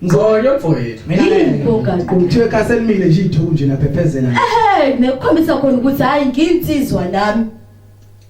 Ngcoyo mfowethu. Mina ngiyibogaqo. Kuthiwe kaselimile nje ithuku nje naphephezela. Ehhe, nekukhombisa khona ukuthi hayi nginsizwa nami.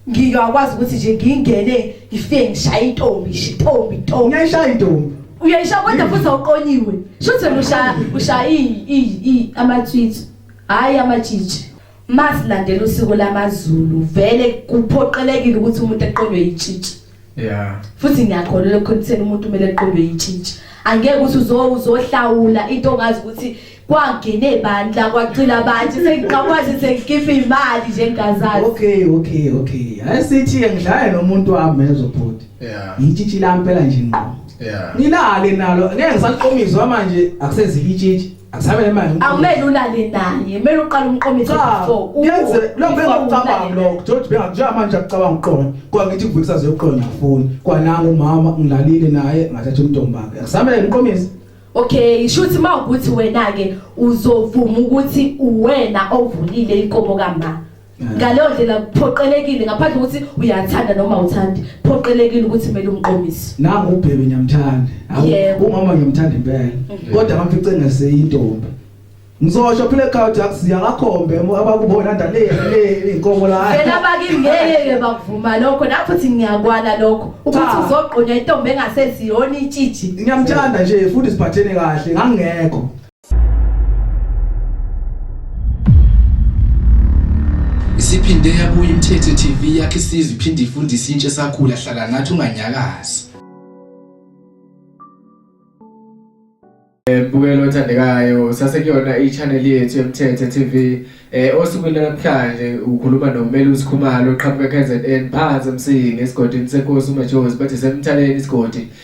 Ngiyakwazi ukuthi nje ngingene ngifike ngishaye intombi, shitombi, intombi. Ngiyashaya intombi. Uyayisha kodwa futhi awuqonyiwe. Shuthi wena ushaya ushaya i i amatswitsi. Hayi amatshitshi. masilandela usiko lamaZulu vele kuphoqelekile ukuthi umuntu eqondwe yitshitshi yeah futhi ngiyakholwa lokho kuthena umuntu kumele eqondwe yitshitshi angeke ukuthi uzohlawula into ongazi ukuthi kwangene bandla kwacila abantu sengiqakwazi sengikhipha imali nje ngazazi okay okay okay asithi ngidlale nomuntu wami ezobhuti yeah yitshitshi lampela nje ngqo yeah ngilale nalo ngeke ngisaqomizwa manje akusezikitshitshi Asabe manje. Awumele ulale naye, mele uqale umqomise before. Yenze lo bengacabanga lo, George bengakujaya manje akucabanga uqonya. Kwa ngithi kuvikisa zeyoqonya afuni. Kwa nangu umama ngilalile naye ngathatha umntombakhe. Asabe umqomise. Okay, shuthi mawukuthi wena ke uzovuma ukuthi uwena ovulile inkomo kamama. ngaleyo ndlela kuphoqelekile ngaphandle ukuthi uyathanda noma uthandi phoqelekile ukuthi kumele umqomise nangu ubhebe ngiyamthanda umama ngiyamthanda impela mm. kodwa ngamfice ngaseyintombi ngizosho phile ekhaya jakusiya ngakhombe abakubona ndale le inkomo la phela bakingeke bakuvuma lokho lapho thi ngiyakwala lokho ukuthi uzogqunywa intombi engaseziyona itshiji ngiyamthanda nje futhi siphathene kahle ngangekho Isiphinde yabuya iMthetho TV yakhe isizwe iphinde ifundise intsha esakhula hlala nathi unganyakazi. Eh, Bukela othandekayo sasekuyona i-channel yethu eMthetho TV eh osukwini namhlanje ukhuluma noMeli uSikhumalo oqhamuka KZN phansi emsingi esigodini seNkosi uMajozi bathi semthaleni isigodi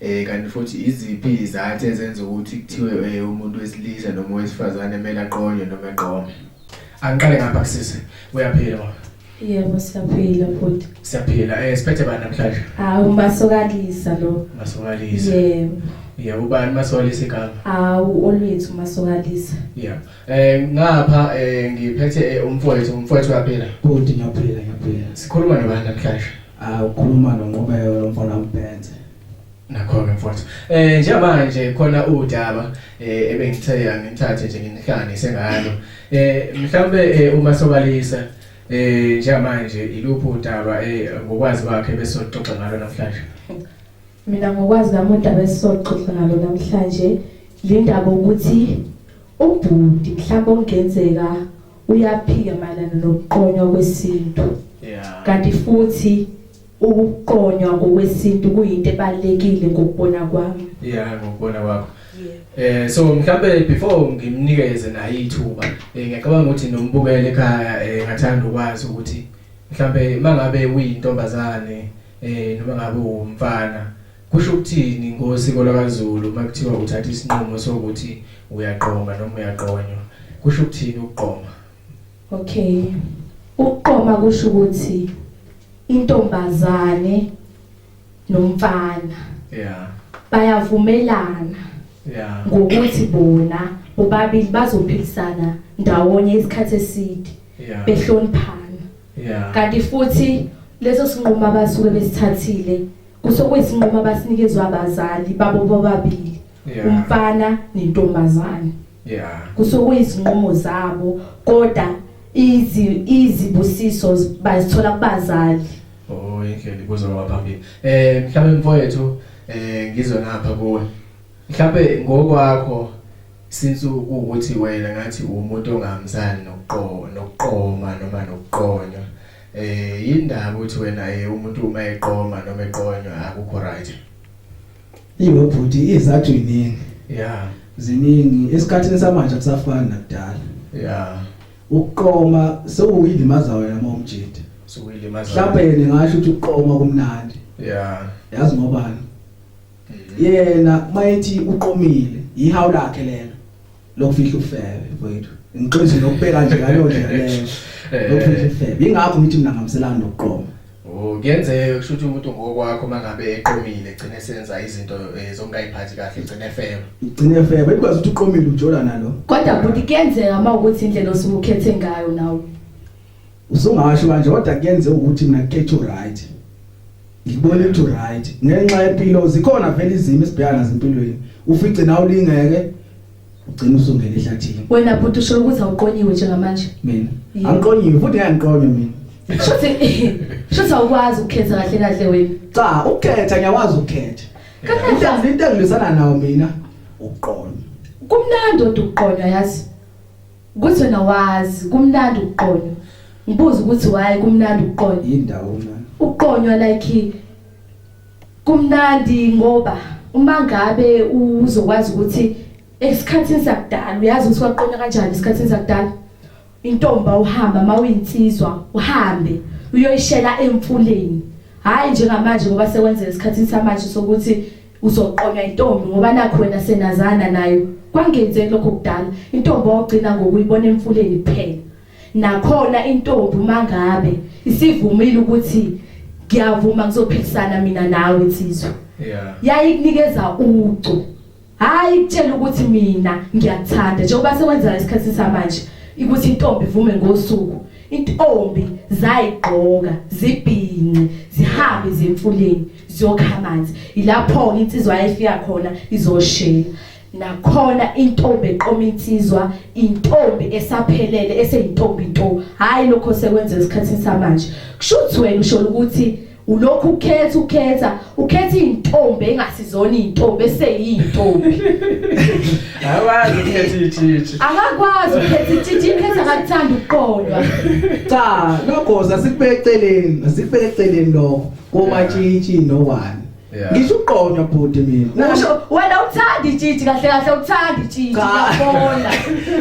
Eh kanti futhi iziphi izathu ezenza ukuthi kuthiwe eh, umuntu wesilisa noma wesifazane kumele aqonywe noma eqome? Angiqale ngapha kusisi. Uyaphila mama. Yebo siyaphila futhi. Siyaphila. Eh siphethe bani namhlanje? Ah umbasokalisa lo. Masokalisa. Yebo. Yebo ubani masokalisa igama? Awu olwethu masokalisa. Yeah. Eh ngapha eh ngiphethe eh, umfowethu, umfowethu uyaphila. Bhuti ngiyaphila ngiyaphila. Sikhuluma nobani namhlanje? Ah ukhuluma noNqobeko lo mfana umbhenze. Nakhona mfowethu. Eh njengamanje khona udaba eh ebengithe angithathe nje nginihlane sengalo. Eh mhlambe eh, uma sobalisa eh njengamanje iluphi udaba eh ngokwazi kwakhe bese soxoxa ngalo namhlanje. Mina ngokwazi kwami udaba esisoxoxa ngalo namhlanje lindaba ukuthi ubhuti mhlawumbe ongenzeka uyaphika mayelana nokuqonywa kwesintu yeah kanti futhi ukuqonywa ngokwesintu kuyinto ebalekile ngokubona kwami yeah ngokubona kwakho Eh so mhlambe before ngimnikeze naye ithuba eh, ngiyacabanga ukuthi nombukele ekhaya eh, ngathanda ukwazi ukuthi mhlambe mangabe uyintombazane eh noma ngabe umfana Kusho ukuthini ngosiko lwakaZulu uma kuthiwa uthatha isinqumo sokuthi uyaqoma noma uyaqonywa? Kusho ukuthini ukuqoma? Okay. Ukuqoma kusho ukuthi intombazane nomfana. Yeah. Bayavumelana. Yeah. Ngokuthi bona bobabili bazophilisana ndawonye isikhathi eside. Yeah. Behloniphana. Yeah. Kanti futhi leso sinqumo abasuke besithathile Kusokuyisinqumo abasinikezwe abazali babo bobabili Yeah. umfana nentombazane. Yeah. Kusokuyisinqumo zabo kodwa izi izibusiso z- bazithola kubazali. Oh, indlela ibuzo ngaphambili. Eh, mhlawumbe mfowethu, eh ngizwe ngapha kuwe. Mhlawumbe ngokwakho since ukuthi wena ngathi umuntu ongamzani nokuqo nokuqoma noma nokuqonywa. Eh yindaba uthi wena eh umuntu uma eqoma noma eqonywa akukho right. Iwe bhuti izathu iningi. Yeah. Ziningi esikhathini samanje kusafana nakudala. Yeah. Ukuqoma sewuyilimaza wena momjidi. Sewuyilimaza. Mhlawumbe yena ngasho ukuthi ukuqoma kumnandi. Yeah. Yazi ngobani? Mm-hmm. Yena mayethi uqomile ihawu lakhe lelo. lokufihla ufebe mfowethu ngiqinise nokubheka nje ngaleyo ndlela leyo Eh. lokufihla ufebe ingakho ngithi mina ngamselani nokuqoma Oh, kuyenzeka kusho ukuthi umuntu ngokwakho mangabe eqomile egcine senza izinto eh, zokungayiphathi kahle egcine efeba. ngigcine ufebe ikwazi ukuthi uqomile ujola nalo kodwa bhuti kuyenzeka uma ukuthi indlela osuke ukhethe ngayo nawe Usungasho kanje kodwa kuyenze ukuthi mina ngikhethe uright. Ngibona ukuthi uright ngenxa yempilo zikhona vele izimo esibhekana nazo empilweni. Ufice nawe ulingeke ugcina usungena ehlathini. Wena bhuti usho ukuthi awuqonyiwe njengamanje. Mina. Angiqonyiwe futhi ngiyangiqonya mina. Shothi shothi awukwazi ukukhetha kahle kahle wena. Cha, ukukhetha ngiyakwazi ukukhetha. Kanti into engilwisana nawo mina uqonya. Kumnandi uqonya yazi. Kuthi wena wazi kumnandi ukuqonywa. Ngibuza ukuthi why kumnandi ukuqonywa. Yindawo mna. Ukuqonywa like kumnandi ngoba uma ngabe uzokwazi ukuthi esikhathini sakudala uyazi ukuthi kwaqonywa kanjani esikhathini sakudala. Intomba uhamba mawuyinsizwa uhambe uyoyishela emfuleni. Hayi njengamanje ngoba sekwenzeka esikhathini samanje sokuthi uzoqonywa intombi ngoba nakho wena senazana nayo kwangenzeki lokho kudala intombi ogcina ngokuyibona emfuleni kuphela nakhona intombi mangabe isivumile ukuthi ngiyavuma ngizophikisana mina nawe insizwa yeah yayikunikeza ucu hayi kutshela ukuthi mina ngiyakuthanda njengoba sewenza isikhathi samanje ukuthi intombi ivume ngosuku intombi zayigqoka zibhinqe zihambe zemfuleni ziyokha amanzi yilapho insizwa yayifika khona izoshela nakhona intombi eqoma insizwa intombi esaphelele eseyintombi into hayi lokho sekwenza esikhathini samanje kusho ukuthi wena usho ukuthi ulokhu ukhetha ukhetha ukhetha intombi engasizona intombi eseyintombi awazi ukhetha ithithi akakwazi ukhetha ithithi ikhetha akathanda ukuqondwa cha logoza sikubeke eceleni sikubeke eceleni lokho komatshitshi no one Yeah. ngisho uqonywa bhuti mina Usho wena uthanda itshitshi kahle kahle uthanda itshitshi Cha. ngiyabona.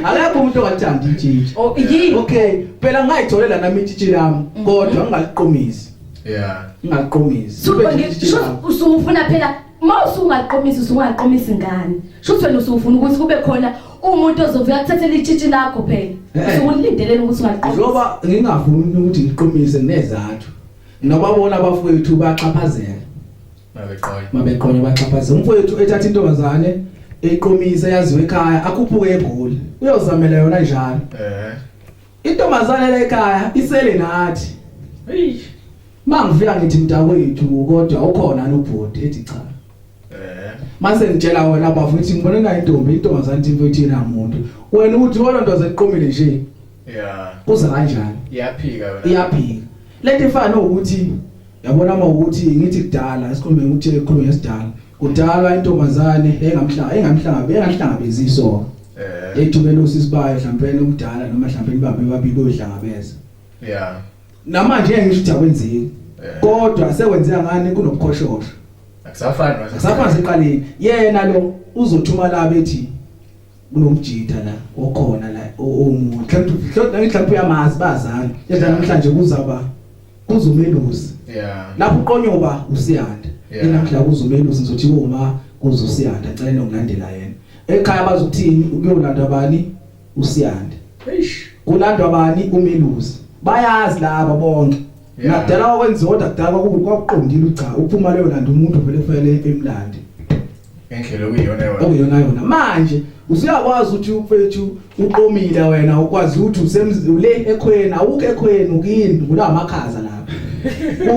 akekho umuntu ongathanda itshitshi Oh yini? okay phela ngayitholela nami itshitshi lami Mhm. kodwa ngingaliqomisi Yeah. ngingaliqomisi Suthi Kube nje itshitshi lami. ngisho usufuna phela uma usungaqomisa usungaqomisa ingane. Shuthi wena usufuna ukuthi kube khona umuntu ozovuka kuthathele itshitshi lakho phela. Eh. Usukulindelela ukuthi ungaqomisa. njengoba ngingavumi ukuthi ngiqomise nezathu Noma bona abafowethu baxhaphazela. Mabeqonya. Mabeqonya baxhaphazela. Umfowethu ethatha intombazane eqomisa yaziwe ekhaya akhuphuke egoli. Uyozamela yona njalo. Eh. Intombazane le ekhaya isele nathi. Eish. Mangifika ngithi mntakwethu kodwa ukhona lobhodi ethi cha. Eh. Mase ngitshela wena bafuthi ngibona nayo intombi intombazane into ethina umuntu. Wena uthi wona ntoze eqomile nje. Yeah. Kuza kanjani? Iyaphika yona. Iyaphika. Lento ifana nokuthi yabona uma ukuthi ngithi kudala esikhulume ukuthi ekhulume ngesidala. Kudala intombazane engamhlanga engamhlanga engahlangabezi isoka. Eh. Ethumela usisi bayo mhlawumbe umdala noma mhlawumbe ibaba babili odlangabeza. Yeah. Namanje ngeke ngisho ukuthi akwenzeki. Eh. Kodwa sekwenzeka ngani kunokukhoshosha. Akusafani. Akusafani seqaleni. Yena lo uzothuma la bethi kunomjita la okhona la omunye mhlawumbe mhlawumbe uyamazi bazana yedla namhlanje kuzaba kuzumelusi yeah lapho uqonyoba usiyanda yena mhla kuzumelusi ngizothi uma kuzusiyanda ngicela nokulandela yena ekhaya bazothini ukuyolanda bani usiyanda eish kulandwa bani umelusi bayazi laba bonke Nakudala wakwenziwa kodwa kudala kwakubi kwakuqondile cha uphuma leyo landa umuntu vele kufanele emlande. Endlela okuyiyona yona. Okuyona yona. Manje usuyakwazi ukuthi ufethu uqomile wena ukwazi ukuthi usemzule ekhweni awukho ekhweni ukini kula makhaza lapha.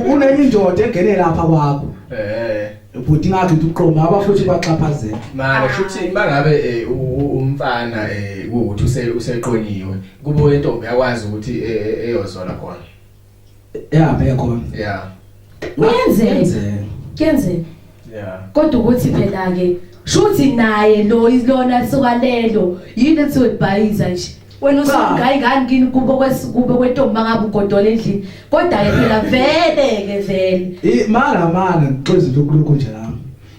Kunenye indoda engene lapha kwakho. Eh. Ubhuti ngakhe uqoma abafuthi baxhaphazela. Manje futhi mangabe eh, umfana eh ukuthi useqonyiwe kubo intombi yakwazi ukuthi eh, eyozola khona. yeah bheke khona yeah kuyenzeka kuyenzeka yeah kodwa ukuthi phela ke shuthi naye lo ilona suka lelo yini ethi webhayiza nje wena usungayi ngani kini kubo kwesikubo kwentombi mangabe ugodola endlini kodwa ke phela vele ke vele mara mara ngixoza lokhu lokhu nje la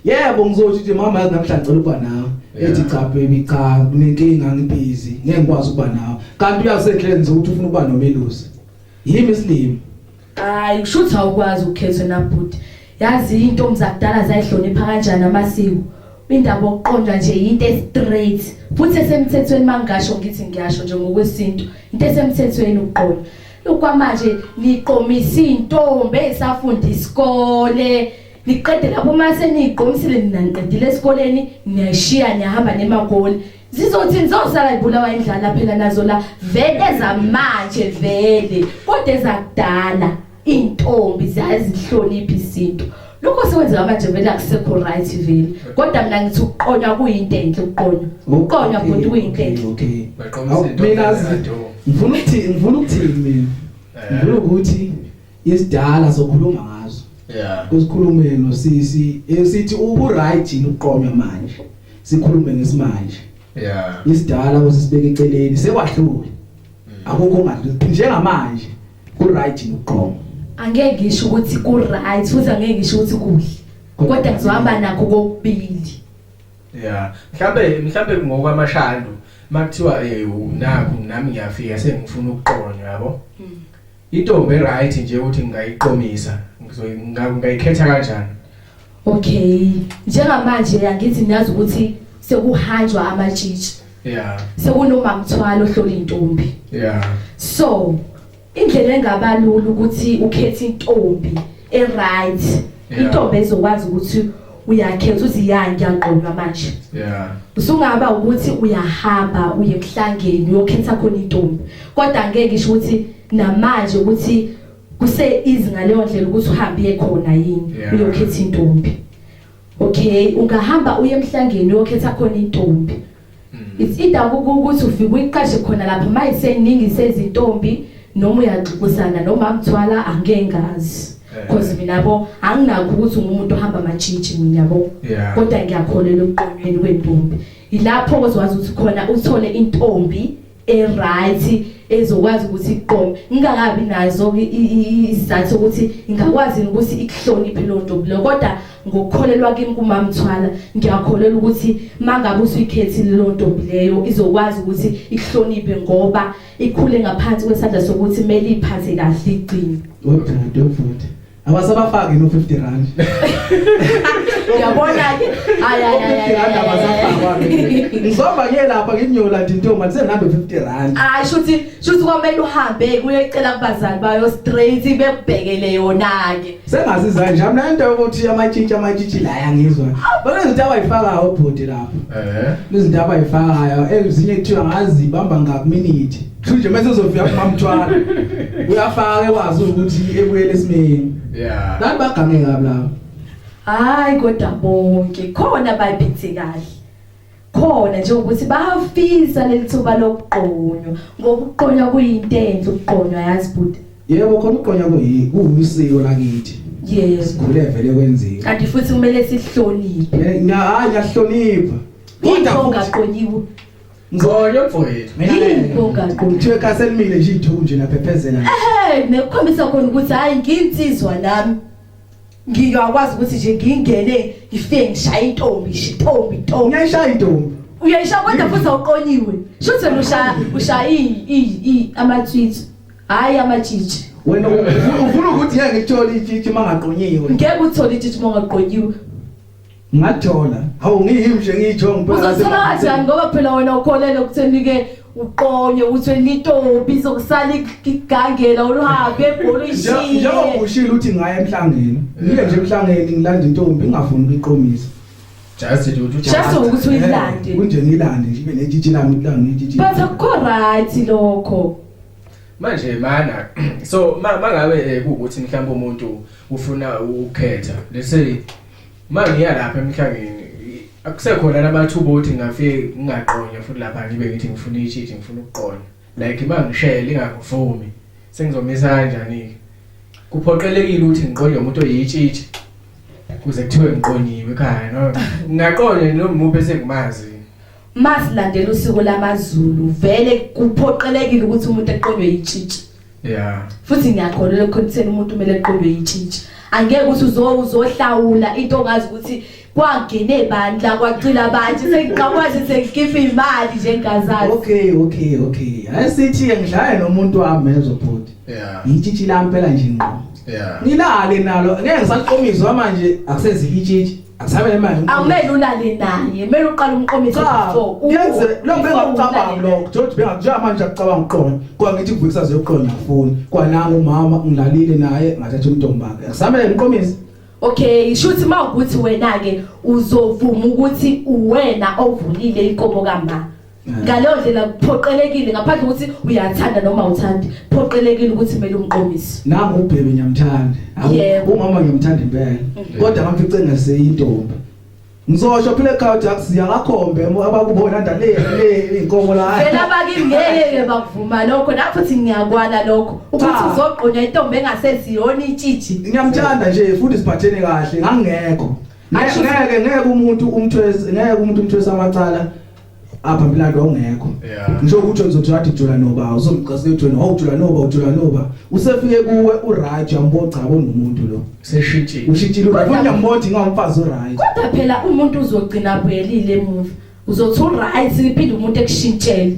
yebo ngizothi nje mama yazi namhlanje ngicela ukuba nawe ethi cha baby cha kunenkinga ngibhizi ngeke ngikwazi ukuba nawe kanti uyasehlele nje ukuthi ufuna ukuba nomelusi yimi isilimo hayi kusho ukuthi awukwazi ukukhetha nabhuti yazi intombi zakudala zayihlonipha kanjani amasiko indaba okuqonda nje into estraight futhi esemthethweni mangasho ngithi ngiyasho nje ngokwesintu into esemthethweni ukuqonda kwamanje niqomisa intombi esafunda isikole Niqede lapho uma seniyigqomisile nina niqedile esikoleni niyayishiya niyahamba nemakoli. Zizothi nizosala ibulawa indlala phela nazo la vele zamanje vele kodwa ezakudala intombi ziyazihlonipha isintu. Lokho sekwenzeka manje vele akusekho right vele. Kodwa mina ngithi ukuqonywa kuyinto enhle ukuqonywa. Ukuqonywa futhi kuyinto enhle. Okay. Mina ngifuna ukuthini ngifuna ukuthini mina. Ngifuna ukuthi Isidala sokhuluma ngazo. Yeah. Kusikhulume nosisi esithi ubu right yini uqonywa manje. Sikhulume ngesimanje. Yeah. Isidala kusibeka eceleni sekwahlule. Mm. Akukho ngathi njengamanje ku right yini uqonywa. Angeke ngisho ukuthi ku right futhi angeke ngisho ukuthi kuhle. Kodwa kuzohamba nakho kokubili. Yeah. Mhlambe mhlambe ngokwamashando makuthiwa eh naku nami ngiyafika sengifuna ukuqonywa yabo. Mm. Intombi right nje ukuthi ngingayiqomisa ngizongayikhetha kanjani? Okay. Njengamanje yangithi niyazi ukuthi sekuhanjwa amatshitshi. Yeah. Sekunoma mthwalo hlola intombi. Yeah. So indlela engaba lula ukuthi ukhethe intombi e right. Intombi ezokwazi ukuthi uyakhetha uthi ya ngiyagqonywa manje yeah usungaba ukuthi uyahamba uye kuhlangeni uyokhetha khona intombi kodwa ngeke isho ukuthi namanje ukuthi kuse easy ngaleyo ndlela ukuthi uhambe uye khona yini uyokhetha intombi okay ungahamba uye emhlangeni uyokhetha khona intombi it's either ukuthi ufike uyiqashe khona lapha mayiseningi sezintombi noma uyaxukusana noma mthwala angeke ngazi eh. because mina bo anginakho ukuthi ungumuntu ohamba amajiji mina yabo kodwa ngiyakholelwa ebuqonweni kwentombi ilapho ozwazi ukuthi khona uthole intombi eright ezokwazi ukuthi iqome ngingakabi nazo isizathu ukuthi ngingakwazi ukuthi ikuhloniphe lo ntombi lo kodwa ngokukholelwa kimi kumamthwala ngiyakholelwa ukuthi mangabe usuyikhethile lo ntombi leyo izokwazi ukuthi ikuhloniphe ngoba ikhule ngaphansi kwesandla sokuthi kumele iphathe kahle igcini odade futhi Abasabafaki no 50 rand. Uyabona ke? Hayi hayi hayi. Rand abasafakwa. Ngizomba ke lapha nginyola nje intombi athi sengihambe 50 rand. Hayi shuthi shuthi kwamele uhambe kuyecela kubazali bayo straight bekubhekele yona ke. Sengazi za nje mina into yokuthi amatshitshi amatshitshi la yangizwa. Bona izinto abayifaka obhuti lapha. Eh. Izinto abayifakayo ezinye kuthiwa ngazi bamba ngaku minute. Thunje mase uzofika kumamthwala. Uyafaka ekwazi ukuthi ebuyele esimeni. Yeah. Nathi bagange kabi lapho. Hayi kodwa bonke khona bayiphethe kahle. Khona nje ukuthi bafisa lelithuba lokuqonywa ngoba ukuqonywa kuyinto enhle ukuqonywa yazi bhuti. Yebo khona ukuqonywa kuyisiko lakithi. Yebo. Sikhule vele kwenzeka. Kanti futhi kumele sihloniphe. Hayi ngiyahlonipha. Kodwa ungaqonyiwe. Mvoyo mfowethu. Ngiyinkogaqa. Kuthiwe kaselimile nje ithuku nje naphephezela. Eh, nekukhombisa khona ukuthi hayi nginsizwa nami. Ngiyakwazi ukuthi nje ngingene ngifike ngishaye intombi, intombi, intombi. Ngiyashaya intombi. Uyayishaya kodwa futhi awuqonyiwe. Shuthi wena ushaya ushaya i i amatswitsi. Hayi amajiji. Wena ufuna ukuthi ngeke ngithole ijiji mangaqonyiwe. Ngeke uthole ijiji mangaqonyiwe. Ngathola. Hawu ngiyimi nje ngiyitho ngipha. Uzothola kanjani ngoba phela wena ukholele ukutheni ke uqonye uthwe litobi zokusala igangela oluhambe ebhola ishiye. Njengoba ushilo uthi ngaye emhlangeni. Ngiye nje emhlangeni ngilanda intombi ngingafuni ukuqomisa. Just it ukuthi Just ukuthi uyilande. Eh, kunje ngilande nje ibe netshitshi lami kulanga itshitshi. But akukho right lokho. manje mana so mangabe eh, kuwukuthi mhlawumbe umuntu ufuna ukukhetha let's say Uma ngiya lapha emhlangeni akusekhona namathuba okuthi ngingafike ngingaqonywa futhi lapha ngibe ngithi ngifuna ishidi ngifuna ukuqonywa like uma ngishele ingangivumi sengizomisa kanjani-ke kuphoqelekile ukuthi ngiqonywe umuntu oyitshitshi kuze kuthiwe ngiqonyiwe ekhaya no ngingaqonywa nomuntu esengimazi masilandela usuku lamaZulu vele kuphoqelekile ukuthi umuntu eqonywe yitshitshi yeah futhi ngiyakholelwa ekutheni umuntu kumele eqondwe yintshintshi angeke ukuthi uzo uzohlawula into ongazi ukuthi kwagene bandla kwacila abantu sengikwazi sengikhipha imali nje ngazazi okay okay okay ayisithi ngidlale nomuntu wami ezobhuti yeah yintshintshi lampela nje ngqo yeah ngilale nalo ngeke ngisaqomiswa manje akusezikitshitshi Asabe imali. Awumele ulale naye, mele uqala umqomithi so. Yenze lo bengakucabanga lo. Jothi bengakuja manje akucabanga uqonya. Kwa ngithi kuvukisa zeqonya afuni. Kwa nangu umama ngilalile naye ngathatha umntombake. Asabe imqomithi. Okay, shuthi mawukuthi wena ke uzovuma ukuthi uwena ovulile inkomo kamama. ngaleyo ndlela kuphoqelekile ngaphandle ukuthi uyathanda noma uthandi phoqelekile ukuthi kumele umqomise nangu ubhebe ngiyamthanda umama ngiyamthanda impela mhm. kodwa ngaphice ngaseyintombi Ngizosho phile ekhaya jakusiya ngakhombe abakubona ndale le inkomo la. Phela bakingeke bakuvuma lokho lapho thi ngiyakwala lokho ukuthi uzogqunywa intombi engaseziyona itshiji. Ngiyamthanda nje futhi siphathene kahle ngangekho. Ngeke ngeke umuntu umthwese ngeke umuntu umthwese amacala apha mlando awungekho ngisho ukuthi uzothi wathi jula noba uzomqasa ejoni awujula noba ujula noba usefike kuwe uraja mboca bonomuntu lo seshintshile ushintshile ufuna mbothi ngawumfazi uraja kodwa phela umuntu uzogcina buyelile emuva uzothi uright iphinde umuntu ekushintshele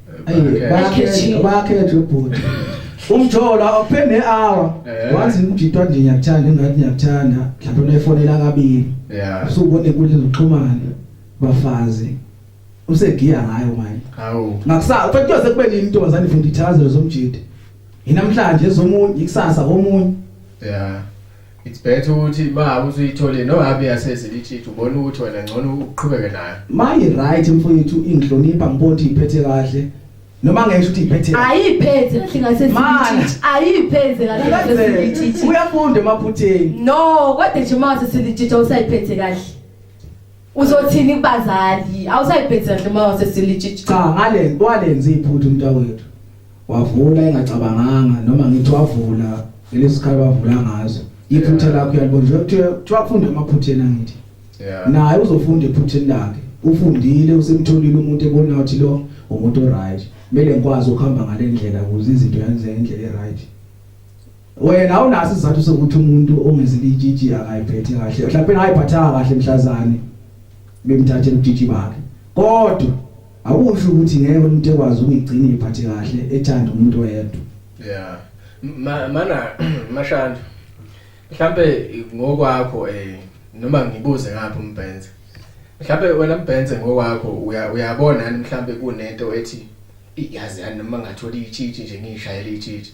Bakhethe bakhethe ubhuti. Umjolo awuphende hour. Eh. Wazi ngididwa nje ngiyakuthanda ingathi ngiyakuthanda. Mhlawumbe unefonela kabili. Yeah. Usubona inkundla zokuxhumana bafazi. Usegiya ngayo manje. Hawu. Ngakusa ufanele uyoze kube nini intombazane ifunda ithazelo zomjidi. Yinamhlanje ezomunye ikusasa komunye. Yeah. It's better ukuthi ma usuyithole no habi yasezi litshithu ubona ukuthi wena ngcono uqhubeke nayo. Mayi right mfowethu ingihlonipha ngibona ukuthi iphethe kahle. Noma ngeke ukuthi iphethe. Ayiphethe kahle ngasezi litshithu. Ayiphethe kahle ngasezi litshithu. Uyafunda emaphutheni. No, kodwa nje mase silitshithu usayiphethe kahle. Uzothini kubazali? Awusayiphethe kahle mase silitshithu. Cha ngale kwalenza iphuthu umntawethu. Wavula engacabanganga noma ngithi wavula lesisikhala wavula ngazo. Iphutha lakho uyalibona nje kuthiwa kuthiwa kufunde amaphutheni angithi. Yeah. Naye uzofunda ephutheni lakhe. Ufundile usemtholile umuntu ebona ukuthi lo umuntu oright. Kumele ngikwazi ukuhamba ngale ndlela ukuze izinto yenze ngendlela eright. Wena awunaso isizathu sokuthi umuntu ongezilitshitshi akayiphethe kahle. Mhlawumbe ayiphathanga kahle mhlazane bemthathela ubutshitshi bakhe. Kodwa Akusho ukuthi ngeke umuntu ekwazi ukuyigcina iphathi kahle ethanda umuntu oyedwa. Yeah. Ma, mana mashanda. Mhlambe ngokwakho eh noma ngibuze ngaphi umbhenze. Mhlambe wena mbhenze ngokwakho uyabona yani mhlambe kunento ethi iyazi yani noma ngathola ichithi nje ngishayela ichithi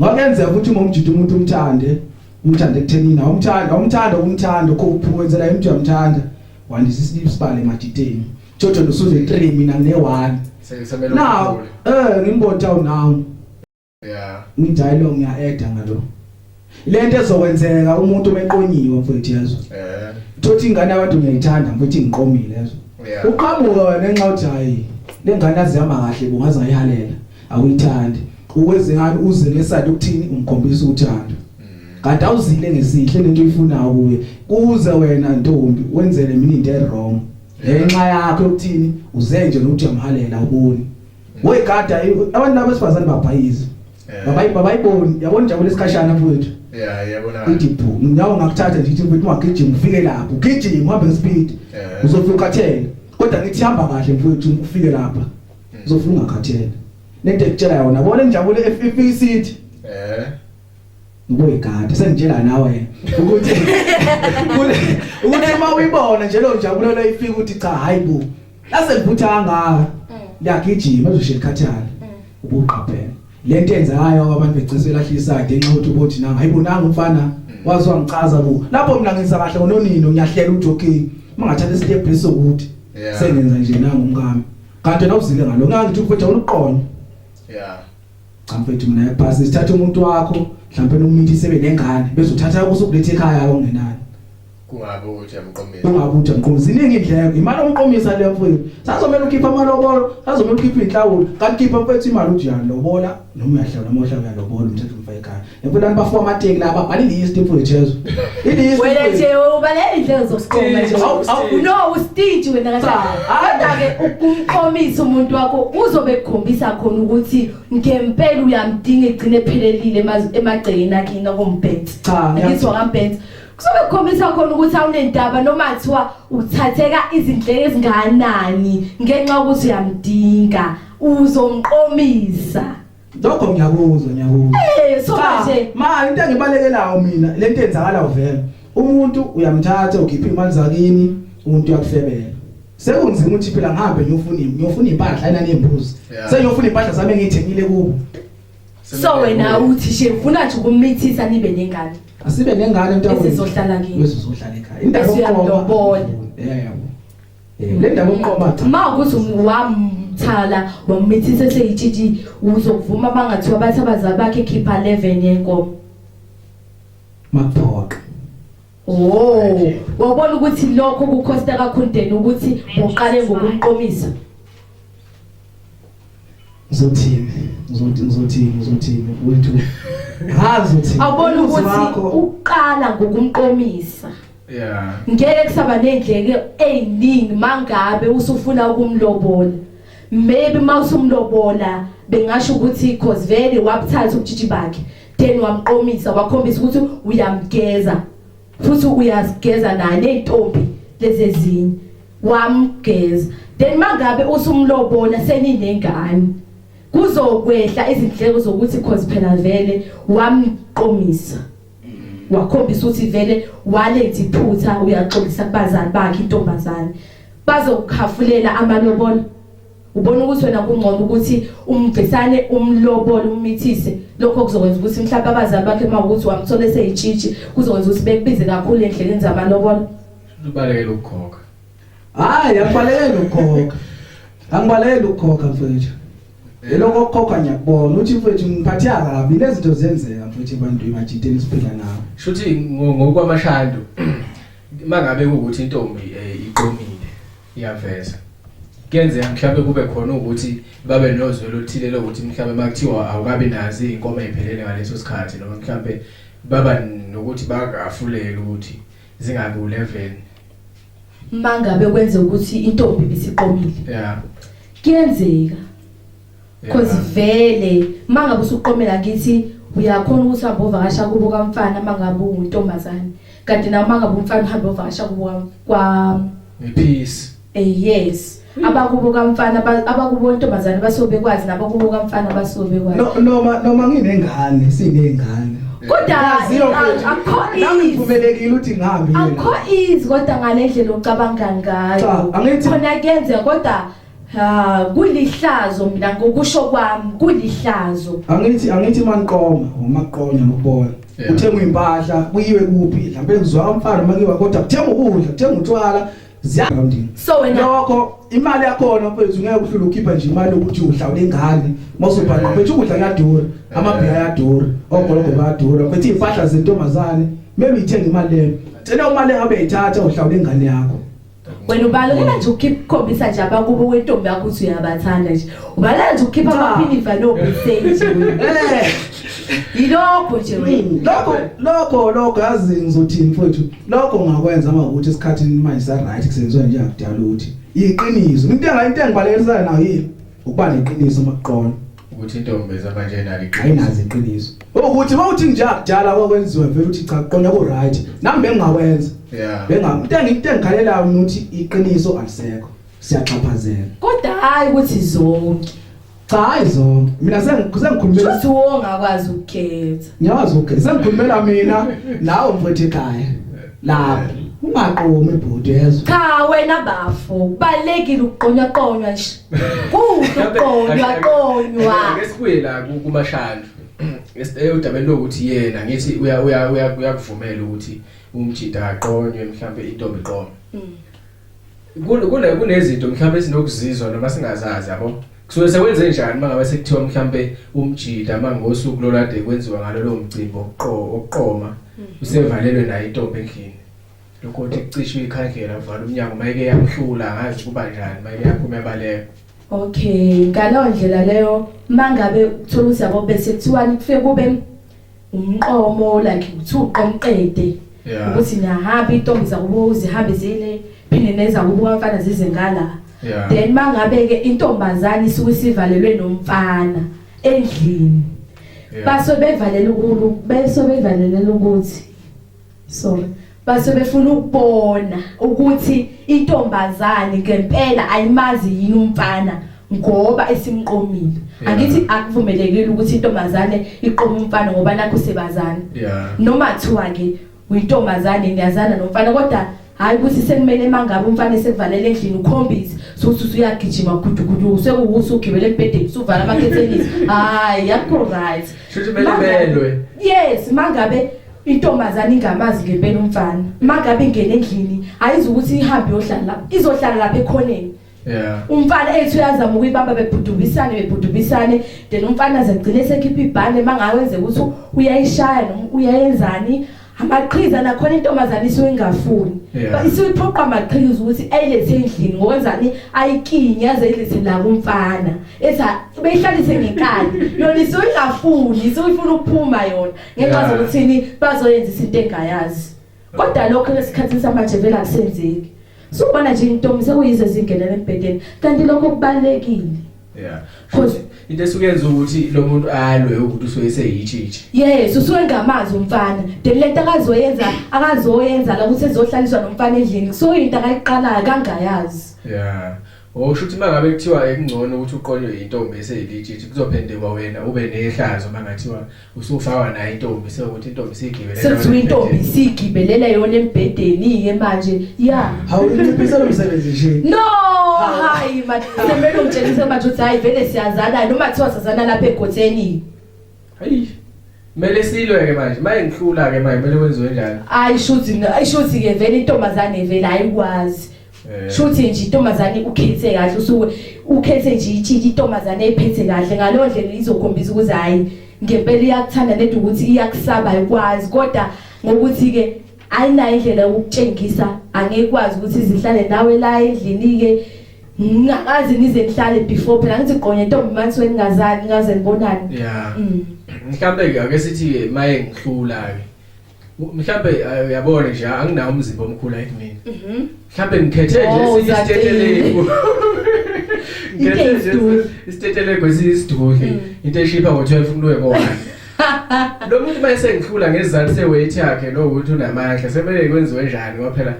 Ngakenzeka ukuthi uma umjida umuntu umthande, umthande ekuthenini nawe umthanda, umthanda umthanda ukho uphumenzela umuntu uyamthanda. Wandisa isibili sibale emajideni. Jojo nosuze 3 mina ngine 1. Sengizamela. Now, eh ngimbotha unawo. Yeah. Ngidayilo ngiya add ngalo. Lento ezokwenzeka umuntu omeqonyiwe mfowethu yezwa. Eh. Thothi ingane abantu ngiyayithanda mfowethu ngiqomile yezwa. Yeah. Uqhamuka wena nxa uthi hayi lengane azihamba kahle bungaze ngayihalela. awuyithandi uwenze ngani uze ngesadi ukuthini umkhombisa uthando kanti awuzile ngesihle lento uyifunayo kuye kuze wena ntombi wenzele mina into ewrong ngenxa yakho yokuthini uze nje nokuthi uyamhalela uboni wegada abantu laba besifazane babhayiza babayi babayiboni yabona injabulo esikhashana mfowethu yeah yabona idiphu nyawo ngakuthatha nje ithi mfowethu ungagijima ufike lapho ugijima uhambe ngespeed uzofika ukhathele kodwa ngithi hamba kahle mfowethu ufike lapha Uzofuna ungakhathela. Nento ekutshela yona, bona injabulo efika isithi. Eh. Ngoyigada sengitshela nawe ukuthi ukuthi uma uyibona nje lo njabulo leyifika ukuthi cha hayibo. Lase livutha kangaka. Liyagijima uzoshe likhathala. Ubuqaphela. Lento yenzayo abantu begcisa elahlisa ngenxa ukuthi ubothi nanga hayibonanga umfana wazi wangichaza ku lapho mina ngenza kahle ngononino ngiyahlela uJoking mangathatha isitep lesokuthi sengenza nje nangu umkami Kade nawuzike ngalo ngangithi mfethu awuluqonye. Yeah. Cha mfethu mina yaphasi sithatha umuntu wakho mhlawumbe nomuntu isebe nengane bezothatha kuso kulethe ekhaya ongenani. Kungabe ukuthi amqomisa. Kungabe ukuthi amqomisa. Ziningi indleko. Imali omqomisa le mfethu. Sazomela ukhipha amalobolo, sazomela ukhipha inhlawulo. Kanti khipha mfethu imali uthi yalobola noma uyahlala noma uhlala uyalobola umthetho umfayekana. Ngifuna nibafo amateki la babhala ilist mfundisi Jesu. Ilist. Wena nje ubalela indlela zokuqoma nje. No ustage wena kahle. Kodwa ke ukumqomisa umuntu wakho uzobe ekukhombisa khona ukuthi ngempela uyamdinga egcine ephelelile emagcekeni akhe ngakombhenzi. Cha ngizwa ngambhenzi. Kuzobe kukhombisa khona ukuthi awunendaba noma kuthiwa uthatheka izindleko ezinganani ngenxa ukuthi uyamdinga uzomqomisa. Lokho ngiyakuzwa ngiyakuzwa. Eh so manje ma into engibalekelayo mina lento enzakala uvela. Umuntu uyamthatha ukhipha imali zakini umuntu uyakufebela. Sekunzima ukuthi phela ngihambe ngiyofuna ngiyofuna impahla ayina nembuzi. Sengiyofuna impahla sami engiyithengile kubo. So wena uthi she ufuna nje ukumithisa nibe nengane. Asibe nengane mntakwethu. Sizohlala kini. Sizohlala ekhaya. Indaba yokuqoma. Yeah. Le ndaba umqoma cha. Uma ukuthi wamthala wamithisa eseyitshitshi uzokuvuma bangathiwa bathi abazali bakhe khipha 11 yenkomo. Maphoqa. Oh, wabona ukuthi lokho kukhosta kakhundeni ukuthi uqale ngokumqomisa. Ngizothini? Ngizothi ngizothini ngizothini wethu. Ngazi ukuthi awubona ukuthi uqala ngokumqomisa. Yeah. Ngeke kusaba nendleke eziningi mangabe usufuna ukumlobola. Maybe mawusumlobola bengasho ukuthi cause vele wabuthatha ubujiji bakhe then wamqomisa wakhombisa ukuthi uyamgeza futhi uyazigeza naye nezintombi lezi ezinye wamgeza then mangabe usumlobola seninengane kuzokwehla izindleko zokuthi cause phela vele wamqomisa wakhombisa ukuthi vele walenza iphutha uyaxolisa kubazali bakhe intombazane bazokukhafulela amalobolo ubona ukuthi wena kungcono ukuthi umgcisane umlobole umithise lokho kuzokwenza ukuthi mhlawumbe abazali bakhe uma ukuthi wamthola eseyitshitshi kuzokwenza ukuthi bekubize kakhulu endleleni zamalobolo ubalekele ukukhokha hayi akubalekele ukukhokha angibalekele ukukhokha mfowethu Eloko kokho ngiyakubona uthi mfethu ngiphathe akabi lezinto zenzeka mfethu abantu emajiteni siphila nawo. Shuthi ngokwamashando mangabe ukuthi intombi eh, iqomile iyaveza. Kuyenzeka mhlawumbe kube khona ukuthi babe nozwe lothile lokuthi mhlawumbe makuthiwa awukabi nazi inkomo ephelele ngaleso sikhathi noma mhlawumbe baba nokuthi bakafulela ukuthi zingabi u11 mangabe kwenza ukuthi intombi bisiqomile yeah kuyenzeka cause vele mangabe usuqomela ngithi uyakhona ukuthi uhambe ovakasha kubo kamfana mangabe untombazane kanti nawe mangabe umfana uhambe ovakasha kubo kwa ngephisi eh yes abakubo kamfana ba- abakubo ntombazane basuke bekwazi nabo kubo kamfana basuke bekwazi No- noma noma nginengane sineyngane kodwa Yaziyo a- mfethu. akho nami ease ngivumelekile ukuthi ngihambe yena. akho ease kodwa ngale ndlela ocabanga ngayo Cha, angithi- khona kuyenzeka kodwa ha kulihlazo mina ngokusho kwami kulihlazo angithi angithi maniqoma umaqonya nokubona Yeah. uthengwa impahla kuyiwe kuphi mhlawumbe kuzwa umfana makiwa kodwa kuthenga ukudla kuthenga utshwala Ziyangondini. So wena lokho imali yakhona mfethu ngeke uhlule ukhipha nje imali ukuthi uhlawule ingane mawusubhana mfethu ukudla kuyadura amabhiya ayadura ogologo bayadura mfethu impahla zentombazane maybe ithenga imali leyo cela uma le ngabe ithatha uhlawule ingane yakho wena ubalekela nje ukukhombisa nje abakubo wentombi yakho ukuthi uyabathanda nje ubalekela nje ukukhipha amaphinifa nobisage eh yilokho nje wena lokho lokho lokho yazi ngizothini mfowethu Lokho ungakwenza uma ukuthi isikhathi manje sa right kusenziwa njengakudala ukuthi iqiniso. Into engayi into engibalekisana nayo yini? Ukuba neqiniso makuqona. Ukuthi intombi ezaba nje nalo iqiniso. Ayinazi iqiniso. Ukuthi mawuthi njengakudala kwakwenziwa vele uthi cha kuqona ku right. Nami bengingakwenza. Yeah. Benga into engithi engikhalelayo ukuthi iqiniso alisekho. Siyaxhaphazela. Kodwa hayi ukuthi zonke. Cha hayi zonke. Mina sengikhulumela Shuthi wonga kwazi ukukhetha. Ngiyazi ukukhetha. Sengikhulumela mina nawe mfowethu ekhaya. Lapho ungaqomi bhuti yezwa. Cha wena bafo kubalekile ukuqonywa qonywa nje. Kuhle ukuqonywa qonywa. Ngesibuye la kumashandu. Esiteyodabeni lokuthi yena ngithi uya uya uyakuvumela ukuthi umjida aqonywe mhlambe intombi qoma. Mm. kule kunezinto mhlawumbe sinokuzizwa noma singazazi yabo kusuke sekwenze njani mangabe sekuthiwa mhlawumbe umjida mangosuku lolade kwenziwa ngalolo mcimbi okuqoma mm. usevalelwe naye intombi endlini lokho ukuthi kucishwe ikhandlela kuvala umnyango mayike yakuhlula ngazi kuba njani mayike yaphuma ebaleka okay ngaleyo ndlela leyo mangabe uthola ukuthi yabo bese kuthiwani kufike kube umqomo like ukuthi uqomqede yeah. ukuthi niyahamba intombi zakubo uzihambe zine phinde nezakubo kamfana zize ngala yeah. then mangabe-ke intombazane isuke isivalelwe nomfana endlini yeah. baso bevalele ukuthi sorry base befuna ukubona ukuthi intombazane ngempela ayimazi yini umfana ngoba esimqomile yeah. angithi akuvumelekile ukuthi intombazane iqoma umfana ngoba nakho sebazana yeah. noma kuthiwa ke uyintombazane niyazana nomfana kodwa hayi ukuthi sekumele mangabe umfana esekuvalela endlini ukhombise sokuthi usuyagijima gudugudu sekuwusa ugibele embhedeni usuvala amakhethenisi hayi yakho right shuthi kumele belwe yes mangabe intombazane ingamazi ngempela umfana mangabe ingene endlini ayizi ukuthi ihambe yohlala izohlala lapha ekhoneni Yeah. Umfana ethi uyazama ukuyibamba bebhudubisane bebhudubisane then umfana azegcine sekhipha ibhande mangawenze ukuthi uyayishaya noma uyayenzani amaqhiza nakhona intombazane isuke ingafuni yeah. isuke iphoqa amaqhiza ukuthi ayilethe endlini ngokwenzani ayikinye aze ilethe la kumfana ethi beyihlalise ngenkani yona isuke ingafuni isuke ifuna ukuphuma yona ngenxa yeah. zokuthini bazoyenza isinto engayazi kodwa lokho esikhathini samanje vele akusenzeki sukubona nje intombi sekuyize zingenela embhedeni kanti lokho kubalekile yeah futhi into esukenza ukuthi lo muntu alwe ukuthi usuke eseyitshitshi yes usuke ngamazi umfana then lento akazoyenza akazoyenza la ukuthi ezohlaliswa nomfana endlini so into akayiqalayo kangayazi yeah Oh shuthi mangabe kuthiwa ekungcono ukuthi uqonywe intombi eseyilitshitshi kuzophendekwa wena ube nehlazo mangathiwa usufakwa nayo intombi sekuthi intombi sigibele sekuthiwa intombi sigibelela yona embhedeni ke manje ya awunciphisa lo msebenzi nje no hayi manje semelo ngitshelise manje ukuthi hayi vele siyazana noma kuthiwa sazana lapha egotheni Hayi. Mele silwe ke manje, maye ngihlula ke manje, mele wenziwe njalo. Hayi shuthi, hayi shuthi ke vele intombazane vele ayikwazi. Eh. Shuthi nje intombazane ukhethe kahle usuke ukhethe nje itshiki intombazane ephethe kahle ngalo ndlela izokhombisa ukuthi hayi ngempela iyakuthanda nento ukuthi iyakusaba ikwazi kodwa ngokuthi ke ayinayo indlela yokukutshengisa angeke kwazi ukuthi zihlale nawe la endlini ke ngingakazi ngize ngihlale before phela ngithi gqonye ntombi manje wengazani ngaze ngibonani yeah mm. mhlambe ke ake sithi maye ngihlula ke mhlambe eh, uyabona nje anginawo umzimba omkhulu like mina mhm Mhlambe ngikhethe nje Oh, esinye Zakhele. isitetelegu. Ngikhethe Into nje esidudla. isitetelegu esiyisidudli. Mm. Into eshipha ngo-12 umuntu webona. Lo muntu uma esengihlula ngezizathu se-weight yakhe lo ukuthi unamandla sebele kwenziwe njani ngoba phela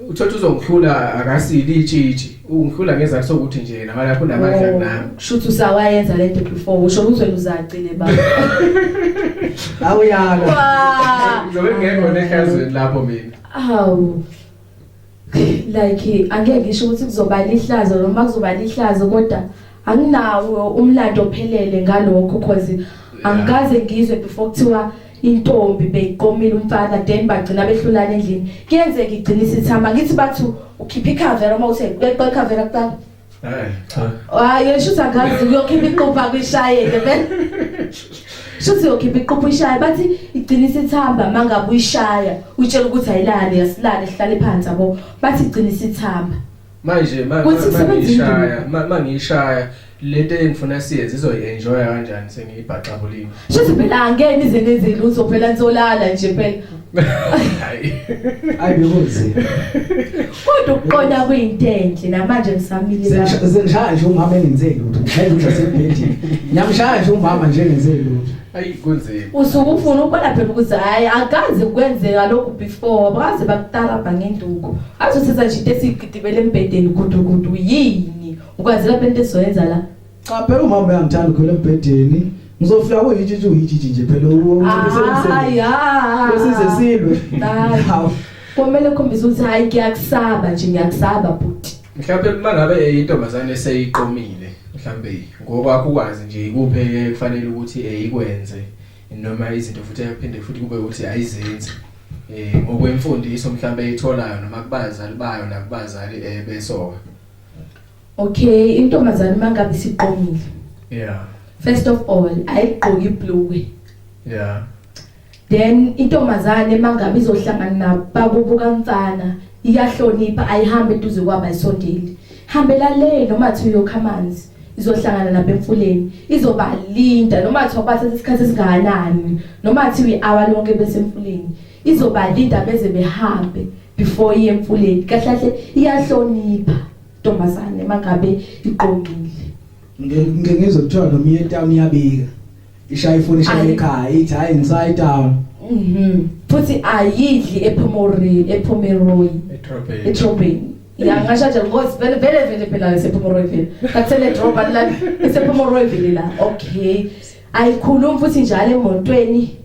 uthola ukuthi uzongihlula akasili itshitshi ungihlula ngezizathu sokuthi nje nawe lapho unamandla kunami. Shuthi usawayenza lento before usho ukuthi wena uzagcine baba. Awuyala. Ngizobe ngekho nehlazweni lapho mina. Awu. like angeke ngisho ukuthi kuzoba lihlazo noma kuzoba lihlazo kodwa anginawo umlando ophelele ngalokho cause angikaze ngizwe before kuthiwa intombi beyiqomile umfana then bagcina behlulana endlini kuyenzeka igcina isithamba ngithi bathu ukhipha ikhavera uma uthe beqe ikhavera kuqala hayi yesho ukuthi angazi uyokhipha iqupha kwishayeke vele shuthi yokhipha iqupha ishaya bathi igcina isithamba mangabe uyishaya utshela ukuthi ayilali yasilali sihlale phansi yabo bathi igcina isithamba manje mangishaya mangishaya lento engifuna siyenze izoyenjoya kanjani sengiyibhaxabulile shuthi phela angeni izinto ezilutho phela nizolala nje phela hayi ayi bekunzima Kodwa ukuqonda kuyinto enhle namanje ngisamile la. Sengishaya nje umama engenze lutho. Ngishaya nje sebhedini. Ngiyamshaya nje umama nje engenze lutho. Ayi kunzima. Usuke ufuna ukubona phela ukuthi hayi akaze kwenzeka lokhu before baze bakutarabha ngenduku. Azothatha nje into esigidibele embedeni gudugudu yini? Ukwazela phela into ezoyenza la. Cha phela umama uyangithanda ukhwele embhedeni. Ngizofika kuyijiji uyijiji nje phela uwomsebenzi. Hayi hayi. Besize silwe. Hawu. Komele ukhombise ukuthi hayi ngiyakusaba nje ngiyakusaba bhuti. Mhlawumbe uma ngabe intombazane eseyiqomile mhlawumbe ngokwakho ukwazi nje ikuphe kufanele ukuthi eyikwenze eh, noma izinto futhi aphinde futhi kube ukuthi ayizenzi eh ngokwemfundiso mhlawumbe itholayo noma kubazali bayo nakubazali eh besoka Okay, intombazane mangabe siqomile. Yeah. First of all, ayigqoki ibhluke. Yeah. Then intombazane mangabe izohlangana nabakubo kamfana, iyahlonipha ayihambe eduze kwabo ayisondeli. Hambela le noma thi uyokha amanzi. izohlangana nabo emfuleni izobalinda noma kuthiwa bathatha isikhathi esingakanani noma kuthiwa i-hour lonke besemfuleni izobalinda beze behambe before iye emfuleni kahle kahle iyahlonipha ntombazane mangabe iqongile ngike ngizwe kuthiwa noma iye town iyabika ishaya ifoni ishaya Ayi. ekhaya ithi hayi ngisayi town mhm futhi ayidli ephomori ephomeroyi etrobheni etrobheni ya ngasho nje ngokuthi vele vele vele phela isephomoroyi vele kathele droba la isephomoroyi vele la okay ayikhulumi futhi njalo emotweni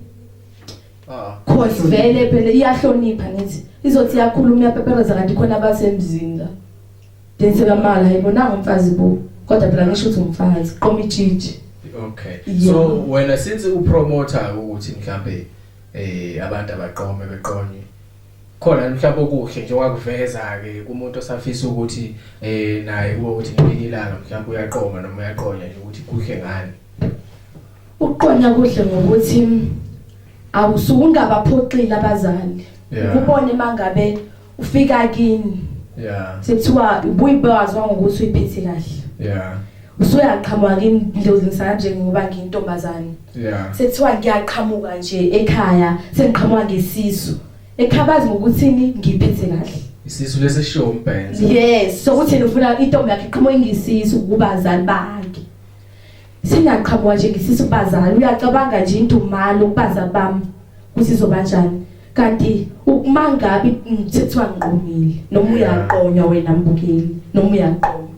Ah. Cause vele phela iyahlonipha ngithi izothi iyakhuluma iyapepereza kanti khona abasemzini la. Dense kamala hayibo nanga umfazi bo. Kodwa phela ngisho ukuthi umfazi qoma ijiji. Okay. Yeah. So wena since u promoter ukuthi mhlambe eh abantu abaqome beqonye khona mhlawumbe okuhle nje wakuveza ke kumuntu osafisa ukuthi eh naye ukuthi ngelinye ilanga mhlawumbe uyaqoma noma uyaqonya nje ukuthi kuhle ngani Ukuqonya kuhle ngokuthi awusuke ungabaphoxile abazali. Yeah. Ukubone mangabe ufika kini. Yeah. Sekuthiwa ubuyibazwa ngokuthi uyiphethe kahle. Yeah. usuyaqhamuka kimi ndlozi ngisanje ngoba ngiyintombazane yeah sekuthiwa ngiyaqhamuka nje ekhaya sengiqhamuka ngesisu ekhabazi ngokuthini ngiphethe kahle isisu lesi show umbhenza yes sokuthi nifuna intombi yakhe iqhamuka ngisisu kubazali bakhe Singaqhamuka nje ngisisu bazali uyacabanga nje indumalo kubaza bami kusizoba njani. Kanti ukumangabi ngithethiwa ngiqomile noma uyaqonywa wena mbukeli noma uyaqoma.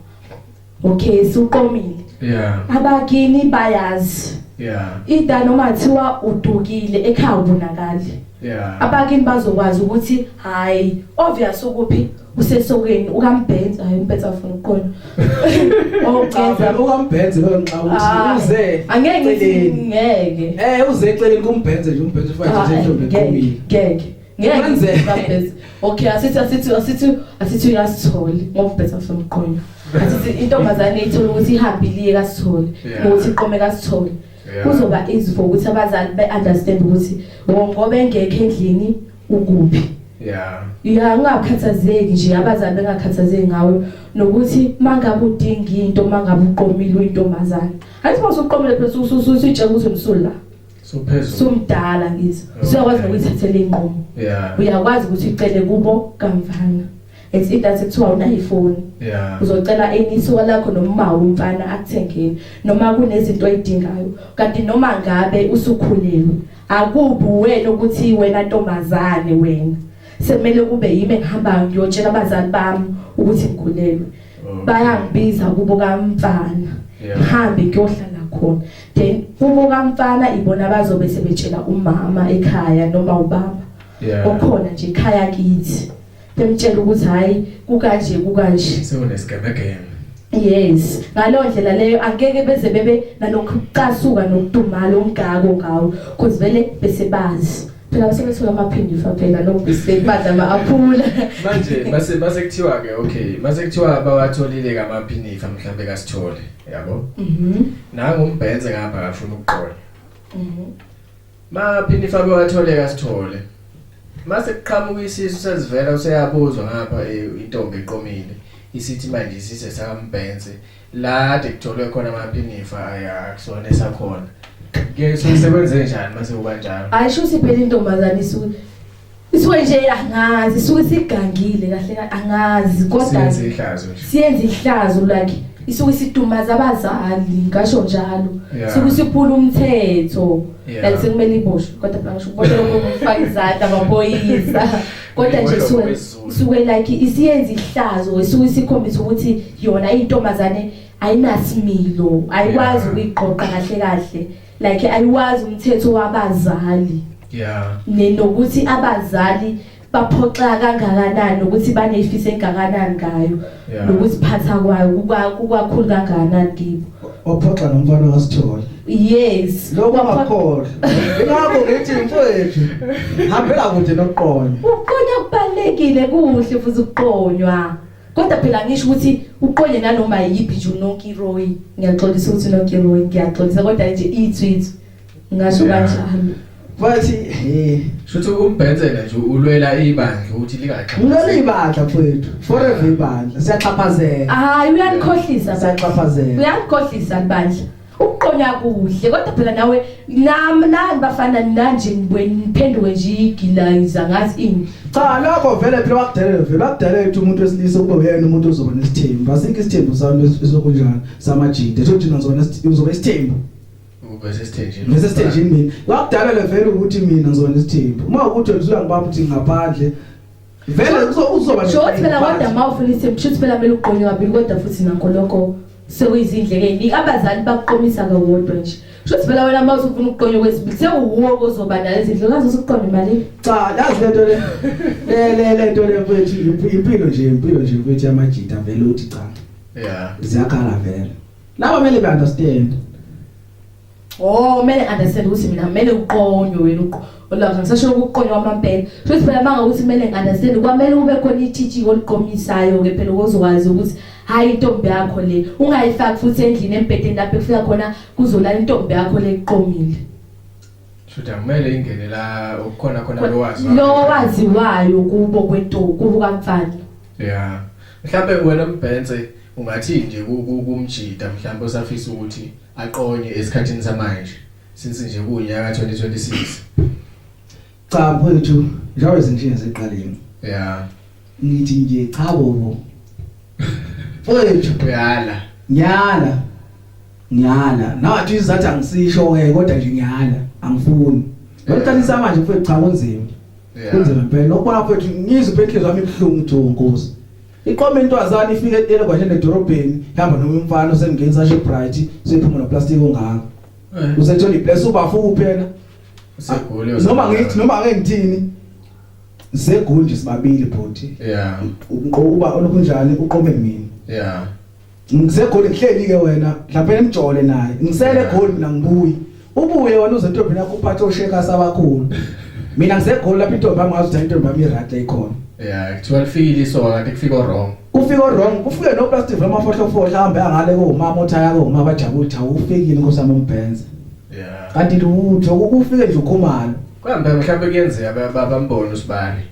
Okay suqomile. Yeah. Abakini bayazi. Yeah. Ida noma thiwa udukile ekhaya ubonakali. Yeah. Abakini bazokwazi ukuthi hayi obvious ukuphi usesokeni ukambhenzi hayi umpetsa ufuna ukuqola oqeza oh, ukambhenzi lo nxa uthi uze angeke ngithi ngeke eh uze eceleni kumbhenzi nje umbhenzi ufake nje ah, intombi eqomile ngeke ngeke ngambhenzi okay asithi asithi asithi asithi uyasitholi ngoba umpetsa ufuna ukuqola asithi intombazane ithola ukuthi ihambile kasitholi ukuthi iqome kasitholi kuzoba easy for ukuthi abazali be understand ukuthi ngoba engekho endlini ukuphi yeah yeah ungakhathazeki nje abazali bengakhathazeki ngawe nokuthi mangabe udinga into mangabe uqomile uyintombazana athi mase uqomile phela usutshela ukuthi umsulu la sophezulu somdala ngizo siyakwazi nokuyithathela inqomo yeah uyakwazi ukuthi ucele kubo kamvana it's either sekuthiwa unayo ifoni yeah uzocela enisiwa lakho noma umfana akuthengeni noma kunezinto oyidingayo kanti noma ngabe usukhulelwe Akubi wena ukuthi wena ntombazane wena sekumele kube yimi engihambayo ngiyotshela abazali bami ukuthi ngikhulelwe. Mm. Bayangibiza kubo kamfana. Ngihambe ngiyohlala khona. Then kubo kamfana ibona bazobe sebetshela umama ekhaya noma ubaba. Okhona nje ekhaya kithi. bemtshela ukuthi hayi kukanje kukanje sewunesgemegeme yes ngalo ndlela leyo angeke beze bebe nalokucasuka nokudumala omgako ngawo cuz vele bese bazi phela basebesuka amaphindi fa phela nokusebenza ama aphula manje base base kuthiwa ke okay base kuthiwa bawatholile kamaphinifa mhlambe kasithole yabo mhm nangu umbhenze ngapha akafuna ukuqola mhm Maphi nifake watholeka sithole. Mase kuqhamuka isisu sezivela useyabuzwa ngapha eh, intombi eqomile isithi manje isise sakambhense la de kutholwe khona amaphinifa ayakusona esakhona. Ke sosebenze njani mase kubanjalo? Ayisho siphela intombazane isu Isuke nje angazi isuke sigangile kahle kahle angazi kodwa Siyenza ihlazo nje. siyenza ihlazo like isuke sidumaza abazali ngasho njalo Yeah. isuke siphula umthetho Yeah. like sekumele iboshwe kodwa phela ngisho ubona lokho kufaka izandla amaphoyisa kodwa nje Iboshwe isuke ngokwesiZulu. isuke like isiyenza ihlazo isuke sikhombisa ukuthi yona intombazane ayinasimilo ayikwazi Yeah. ukuyiqoqa kahle kahle like ayiwazi umthetho wabazali yeah nenokuthi abazali baphoxa kangakanani ukuthi banefiso engakanani ngayo Yeah. nokuziphatha kwayo kuba- kukakhulu kangakanani kibo ophoxa nomfana wasithola yes lokho angakholwa ingakho ngithi mfowethu hambela kude nokuqonya ukuqonya kubalulekile kuhle futhi ukuqonywa Kodwa phela ngisho ukuthi uqonye nanoma yiphi nje uNonkiroyi, ngiyaxolisa ukuthi uNonkiroyi, ngiyaxolisa kodwa nje ithwithu. Ngasho kanjalo. Wathi eh shuthi umbhenzela nje ulwela ibandla ukuthi lingaxhaphazeki. Ulwela ibandla mfowethu, forever ibandla. Siyaxhaphazeka. Hayi uyanikhohlisa, siyaxhaphazeka. Uyanikhohlisa ibandla. Ukuqonya kuhle kodwa phela nawe nam nani bafana nanje niphenduke nje igilayiza ngazi ini. Cha lokho vele phela wakudelela vele wakudelela ukuthi umuntu wesilisa kube uyena umuntu ozoba nesithembu. Asikho isithembu sami esokunjani samajide. Thothi mina ngizobona uzoba isithembu. Ubese sithenjini. Bese sithenjini mina. Wakudelela vele ukuthi mina ngizobona isithembu. Uma ukuthi uzula ngibaba ukuthi ngaphandle vele uzoba shothi phela kodwa uma ufuna isimbi shothi phela kumele uqonye kabili kodwa futhi nakho lokho sekuyizindleke eziningi abazali bakuqomisa kawodwa nje shothi phela wena uma usufuna ukuqonywa kwesibili sewuwuwo ozoba nayo izindleko ngaze usuqonde imali cha yazi le nto le le le nto le mfethu impilo nje impilo nje mfethu yamajita vele uthi cha yeah ziyakhala vele laba kumele be understand Oh mele understand ukuthi mina mele uqonywe wena uqo. Olwazi ngisasho ukuqonywa amampela. Futhi phela banga ukuthi mele understand kwamele ube khona i-teaching oliqomisayo ke phela ukuzokwazi ukuthi hayi intombi yakho le ungayifaki futhi endlini embhedeni lapho efika khona kuzolala intombi yakho le iqomile. Shuthi akumele ingene la ukukhona khona lo wazi. Lo waziwayo kubo kwentombi kubo kamfana. Yeah. Mhlawumbe wena mbhense ungathi nje kumjida mhlawumbe usafisa ukuthi aqonye esikhathini samanje since nje kuwunyaka 2026 cha mfowethu njengoba izinkinga ziqalile yeah ngithi nje cha bobo mfowethu uyala ngiyala ngiyala nathi izathi angisisho ke kodwa nje ngiyala angifuni ngicalisa manje mfowethu cha kunzima kunzima impela nokubona mfowethu ngizwe impela inhliziyo yami ibuhlungu nje nkosi Iqoma intwazana ifike etele kwanje nedorobheni ihamba noma umfana osemngenisa ashe bright sephuma no plastic ongaka. Eh. Usethola ibless ubafu kuphela. Usegoli noma ngithi noma ake ngithini zegoli nje sibabili bhuti. Yeah. Uqoba olokunjani uqome mina. Yeah. ngisegoli ngihleli ke wena mhlawumbe emjole naye ngisele goli mina ngibuyi ubuye wena uze ntombi yakho uphathe osheka sabakhulu mina ngisegoli lapha intombi yami ngazi ukuthi intombi yami irate ikhona yeah kuthiwa lifikile isoka kanti kufika wrong kufika wrong kufike no plastic vama fohlo fohlo hambe angale ko umama othaya ko umama bajabule cha ufikile nkosami umbhenze yeah kanti lutho ukufike nje ukhumalo kuhambe mhlawumbe kuyenzeka baba mbone usibani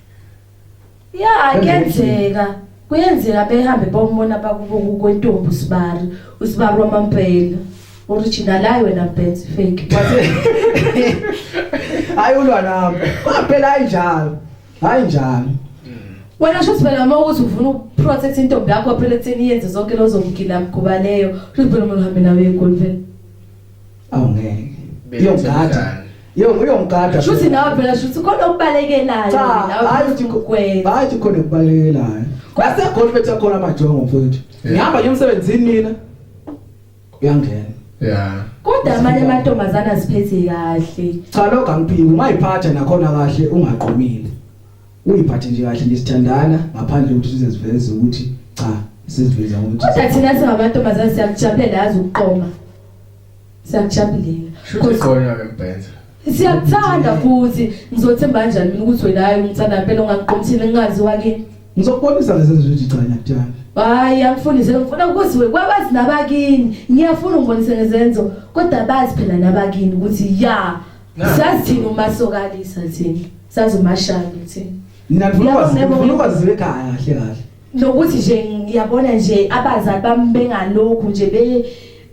Ya kuyenzeka. Kuyenzeka behambe bomona bakubuku kwentombi usibari, usibari wamampela. Original hayi wena Benz fake. Hayi ulwa nami. Phela ayinjalo. Hayi njalo. Wena sho sibela uma ukuthi ufuna ukuprotect intombi yakho phela ekutheni yenze zonke lozo mgila mkhuba leyo. Sho sibela uma uhambe nawe eGolden. awungeke uyongada Yo uyongada. Shuthi nawe phela shuthi khona okubalekelayo nawe hayi ukwenza. Hayi khona okubalekelayo. Kwase golf bethe khona amajongo mfowethu. Ngihamba nje emsebenzini mina. Uyangena. Yeah. Kodwa amanye amantombazana aziphethe kahle. Cha lokho angiphiki ungayiphatha nakhona kahle ungaqomile. Uyiphathe nje kahle nje sithandana ngaphandle ukuthi size siveze ukuthi cha siziveza ukuthi. Kodwa thina singabantombazana siyakujabulela yazi ukuqoma. siyakujabulela shuthi qonywa ke mbhenza siyakuthanda futhi ngizothemba kanjani mina ukuthi wena hayi umthanda impela ongakuqomthile ngingazi wake ngizokubonisa lezi zithi cha ngiyakuthanda hayi angifundise ngifuna ukuziwe kwabazi nabakini ngiyafuna ungibonise ngezenzo kodwa bazi phela nabakini ukuthi ya sazi thina umasokalisa thina sazi umashana thina nina nifuna ukwazi nifuna ukwazi ekhaya kahle kahle nokuthi nje ngiyabona nje abazali bami bengalokhu nje be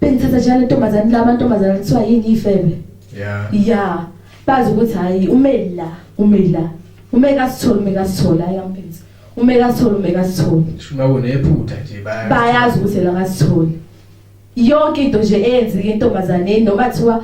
bengithatha njalo intombazane laba ntombazane kuthiwa yini ifebe yeah yeah bazi ukuthi hayi umeli la umeli la umeka sithole umeka sithole ayampenza umeka sithole umeka sithole shuma kunephutha nje bayazi bayazi ukuthi la ngasithole yonke into nje eyenzeke intombazane noma kuthiwa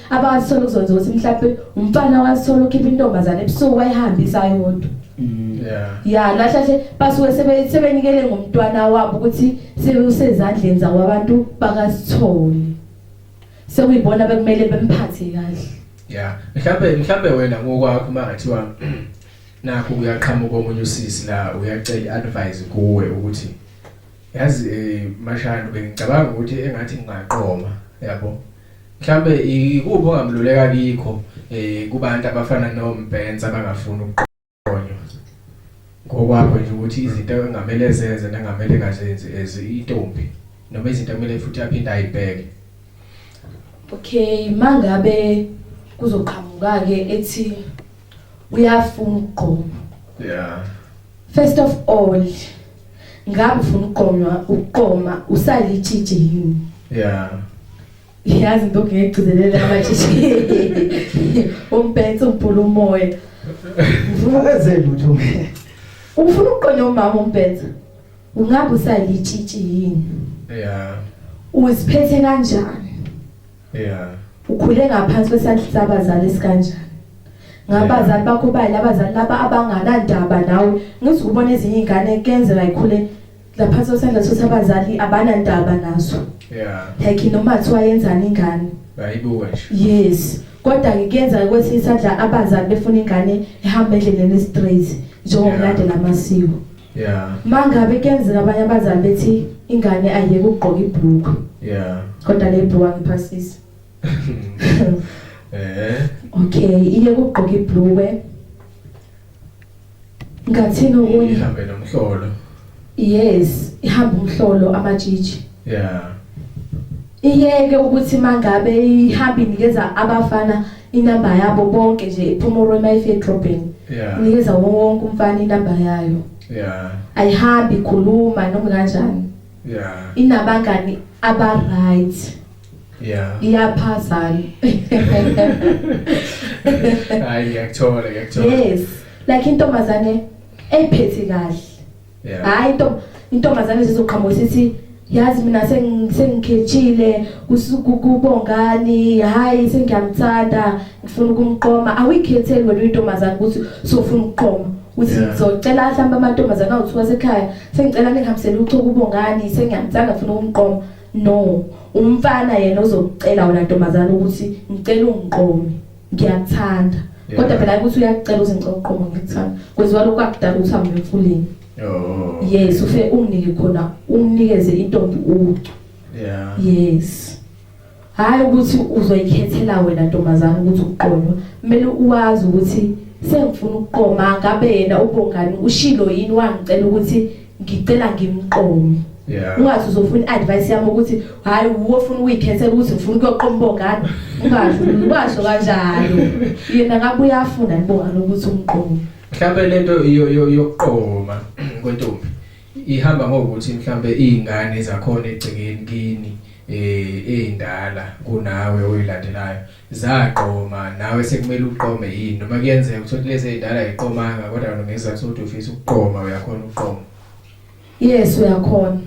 abawasithola ukuzonza ukuthi mhlawumbe umfana wasithola ukhipha intombazane ebusuku wayihambisa yodwa mm. ya nahlahle basuke sebenikele ngomntwana wabo ukuthi sebewusezandleni zawo abantu bakasitholi sekuyibona bekumele bemphathe kahle ya mhlawumbe mhlawumbe wena ngokwakho uma ngathiwa nakho kuyaqhamuka omunye usisi la uyacela advice kuwe ukuthi yazi eh, mashana bengicabanga ukuthi engathi ngingaqoma yabo Mhlambe ikuphi ongamluleka kikho eh kubantu abafana noMbenza abangafuni ukuqonywa. Ngokwakho nje ukuthi izinto engamele zenze nengamele ngazenzi as intombi noma izinto kumele futhi aphinde ayibheke. Okay mangabe kuzoqhamuka ke ethi uyafuna ukugqoma yeah first of all ngabe ufuna ukugqonywa ukuqoma usalitshitshi yini yeah yazi into ngiyigcizelela amatshitshi umphethe umpula umoya ngifuna ukwenze lutho ufuna ukugqonywa umama umphethe ungabe usalitshitshi yini yeah uziphethe kanjani Yeah. Ukhule ngaphansi kwesandla sabazali sikanjani? Ngabazali bakho bayile abazali laba abanganandaba nawe. Ngithi kubona ezinye izingane kenzeka ikhule laphansi kwesandla sabazali abanandaba nazo. Yeah. Like noma kuthiwa yenzani ingane. Bayibuka nje. Yes. Kodwa ngikuyenzeka kwesinye isandla abazali befuna ingane ihambe endleleni straight njengomlandela amasiko. yeah mangabe kuyenzeka abanye abazali bethi ingane ayeke ukugqoka ibhulukwe yeah kodwa le bhuwa ngiphasisa eh okay iye ukugqoka ibhulukwe ngathini okunye ihambe nomhlolo yes ihamba umhlolo amajiji yeah iyeke ukuthi mangabe ihamba inikeza abafana inamba yabo bonke nje iphuma uRoma ifedrobheni yeah inikeza wonke umfana inamba yayo yeah ayihambi ikhuluma noma kanjani yeah inabangani aba right yeah iyaphazana hayi ngiyakuthola ngiyakuthola yes like intombazane ephethe kahle Yeah. hayi into intombazane zizoqhamuka sithi yazi mina seng- sengikhetshile kusu- ku- kubongani hayi sengiyamthanda ngifuna ukumqoma awuyikhetheli wena uyintombazane ukuthi sofuna ukuqoma uthi Yeah. ngizocela mhlawumbe amantombazane awuthi wasekhaya sengicela ningihambisele uchoku ubongani sengiyamthanda ngifuna ukumqoma no umfana yena ozokucela wena ntombazane ukuthi ngicela ungiqome ngiyakuthanda Yeah. kodwa phela ukuthi uyakucela uze ngicela uqomo ngikuthanda kwenziwa lokhu akudala ukuthi hambe emfuleni Oh. yes ufe unginike khona unginikeze intombi ucu Yeah. yes hayi ukuthi uzoyikhethela wena ntombazana ukuthi uqonywa kumele uwazi ukuthi sengifuna ukuqoma ngabe yena ubongani ushilo yini wangicela ukuthi ngicela ngimqomi Yeah. Ungathi uzofuna advice yami ukuthi hayi uwo ufuna uyikhethela ukuthi ufuna ukuyoqoma ubongane. Ungasho ungasho kanjalo. Yena ngabe uyafuna nibongane ukuthi umqomi. Mhlambe lento yokuqoma kwentombi ihamba ngokuthi mhlambe izingane zakhona egcekeni kini eh ezindala kunawe oyilandelayo zaqoma nawe sekumele uqome yini noma kuyenzeka ukuthi othi lezi ezindala ayiqomanga kodwa wena ngezizathu sokuthi ufisa ukuqoma uyakhona ukuqoma yes uyakhona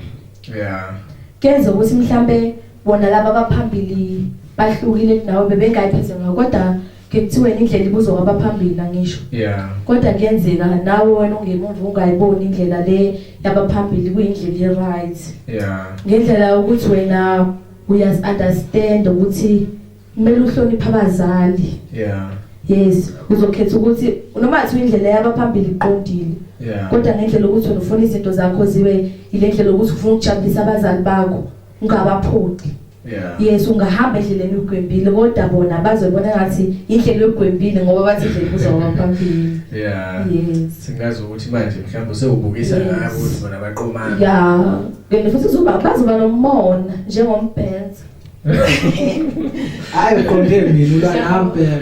yeah kuyenzeka ukuthi mhlambe bona laba abaphambili bahlukile kunawe bebengayipheze ngayo kodwa ngekuthiwe indlela ibuzwa kwabaphambili nangisho yeah kodwa kuyenzeka nawe wena ungemumva ungayiboni indlela le yabaphambili kuyindlela e-right yeah ngendlela ukuthi wena Uyaz understand ukuthi kumele uhloniphe abazali. Yeah. Yes, uzokhetha ukuthi noma athi indlela yabaphambili iqondile. Yeah. Kodwa ngendlela ukuthi ufuna izinto zakho zibe ilendlela ukuthi ufuna ukujabulisa abazali bakho ungabaphoqi. Yeah. Yes ungahamba endleleni yogwembile kodwa bona bazobona ngathi indlela yogwembile ngoba bathi indlela kuzoba phambili. Yeah. Yes. Singazi ukuthi manje mhlawumbe sewubukisa ngabo ukuthi bona baqomana. Yeah. Kanti futhi uzoba bazoba nomona njengombhenza. Hayi uqonde mina ula nami phela.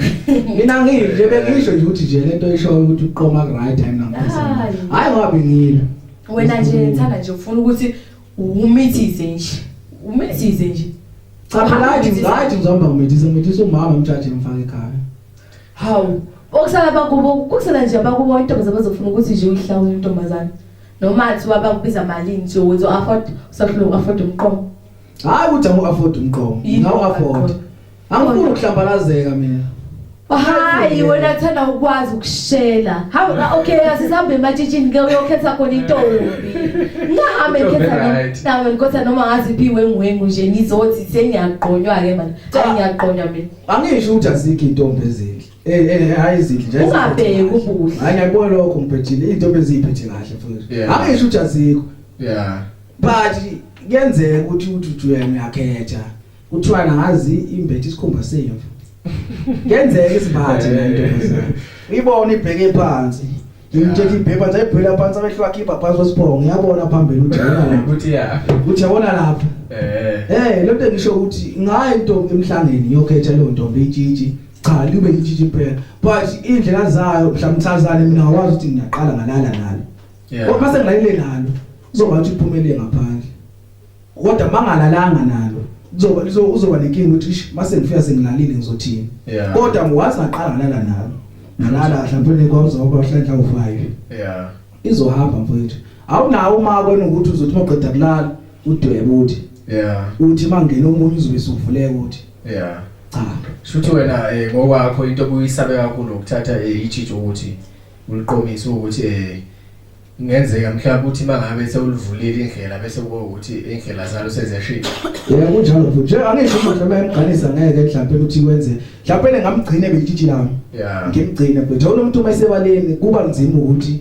Mina ngiyile bengisho nje ukuthi nje lento ishoyo ukuthi uqoma ku right time namphezulu. Hayi. Hayi ngoba bengile. Wena nje ngithanda nje ufuna ukuthi umithize nje. Umithize nje. Cha phela athi ngathi ngizomba umethisa umethisa umama umjaji emfaka ekhaya. Hawu, bokusala bakubo kusala nje abakubo intombazane bazofuna ukuthi nje uyihlawule intombazane. Noma athi wabakubiza malini nje uzo afford usahlulwa afford umqomo. Hayi ukuthi angu afford umqomo. Yini Ngawu afford. afford? Angifuni ukuhlambalazeka mina. Hayi wena thanda ukwazi ukushela. Hawu la, okay asihambe ematshitshini ke uyokhetha khona intombi. Ngihambe Intombi ngikhetha noma- right. nawe ngikhetha noma ngazi phi wenguwengu nje ngizothi sengiyagqonywa ke manje. Cha Ah. ngiyagqonywa mina. Angisho ukuthi azikho intombi ezinhle. Eh eh hayi izinhle nje. Ungabheki ubuhle. Hayi ngiyabona lokho ngibhejile intombi eziphethe kahle futhi. Angisho ukuthi azikho. Yeah. But kuyenzeka ukuthi uthi uthi uyakhetha. Kuthiwa ngazi imbethe isikhumba semvu. Kuyenzeka isibhathi lento. Uyibona ibheke phansi. ngimthethe ibhebha ndayibhela phansi amehlo akhe ibha phansi kwesibhongo ngiyabona phambili ukuthi yabona lapha ukuthi ya ukuthi yabona lapha eh eh lo nto ngisho ukuthi ngayi into emhlangeni ngiyokhetha leyo ntombi itshitshi cha libe itshitshi impela but indlela zayo mhlamthazane mina ngakwazi ukuthi ngiyaqala ngalala nalo kodwa mase ngilayile nalo kuzoba ukuthi iphumelele ngaphandle Kodwa mangalalanga nalo kuzoba lizo uzoba nenkinga ukuthi ish mase ngifika sengilalile ngizothini. Yeah. Kodwa ngwazi ngaqala ngalala nalo. Ngalala mhlawumbe kwazoba uhlenhla ufayo. Yeah. Izohamba mfowethu. Awunawo uma kwena ukuthi uzothi maqeda kulala udwebe uthi. Yeah. Uthi mangena omunye uzobe suvuleka uthi. Yeah. Cha. Shuthi wena eh ngokwakho into obuyisabe kakhulu ukuthatha eh ichicho ukuthi uliqomise ukuthi eh Kungenzeka mhlawumbe ukuthi mangabe sewulivulile indlela bese kube ukuthi indlela zalo seziyashintsha. Yebo kunjalo futhi. Nje angisho ukuthi noma emgqanisa ngeke mhlawumbe ukuthi wenze. Mhlawumbe lengamgcine belitshitshi lami. Yeah. Ngimgcine futhi. Awona umuntu uma esebaleni kuba nzima ukuthi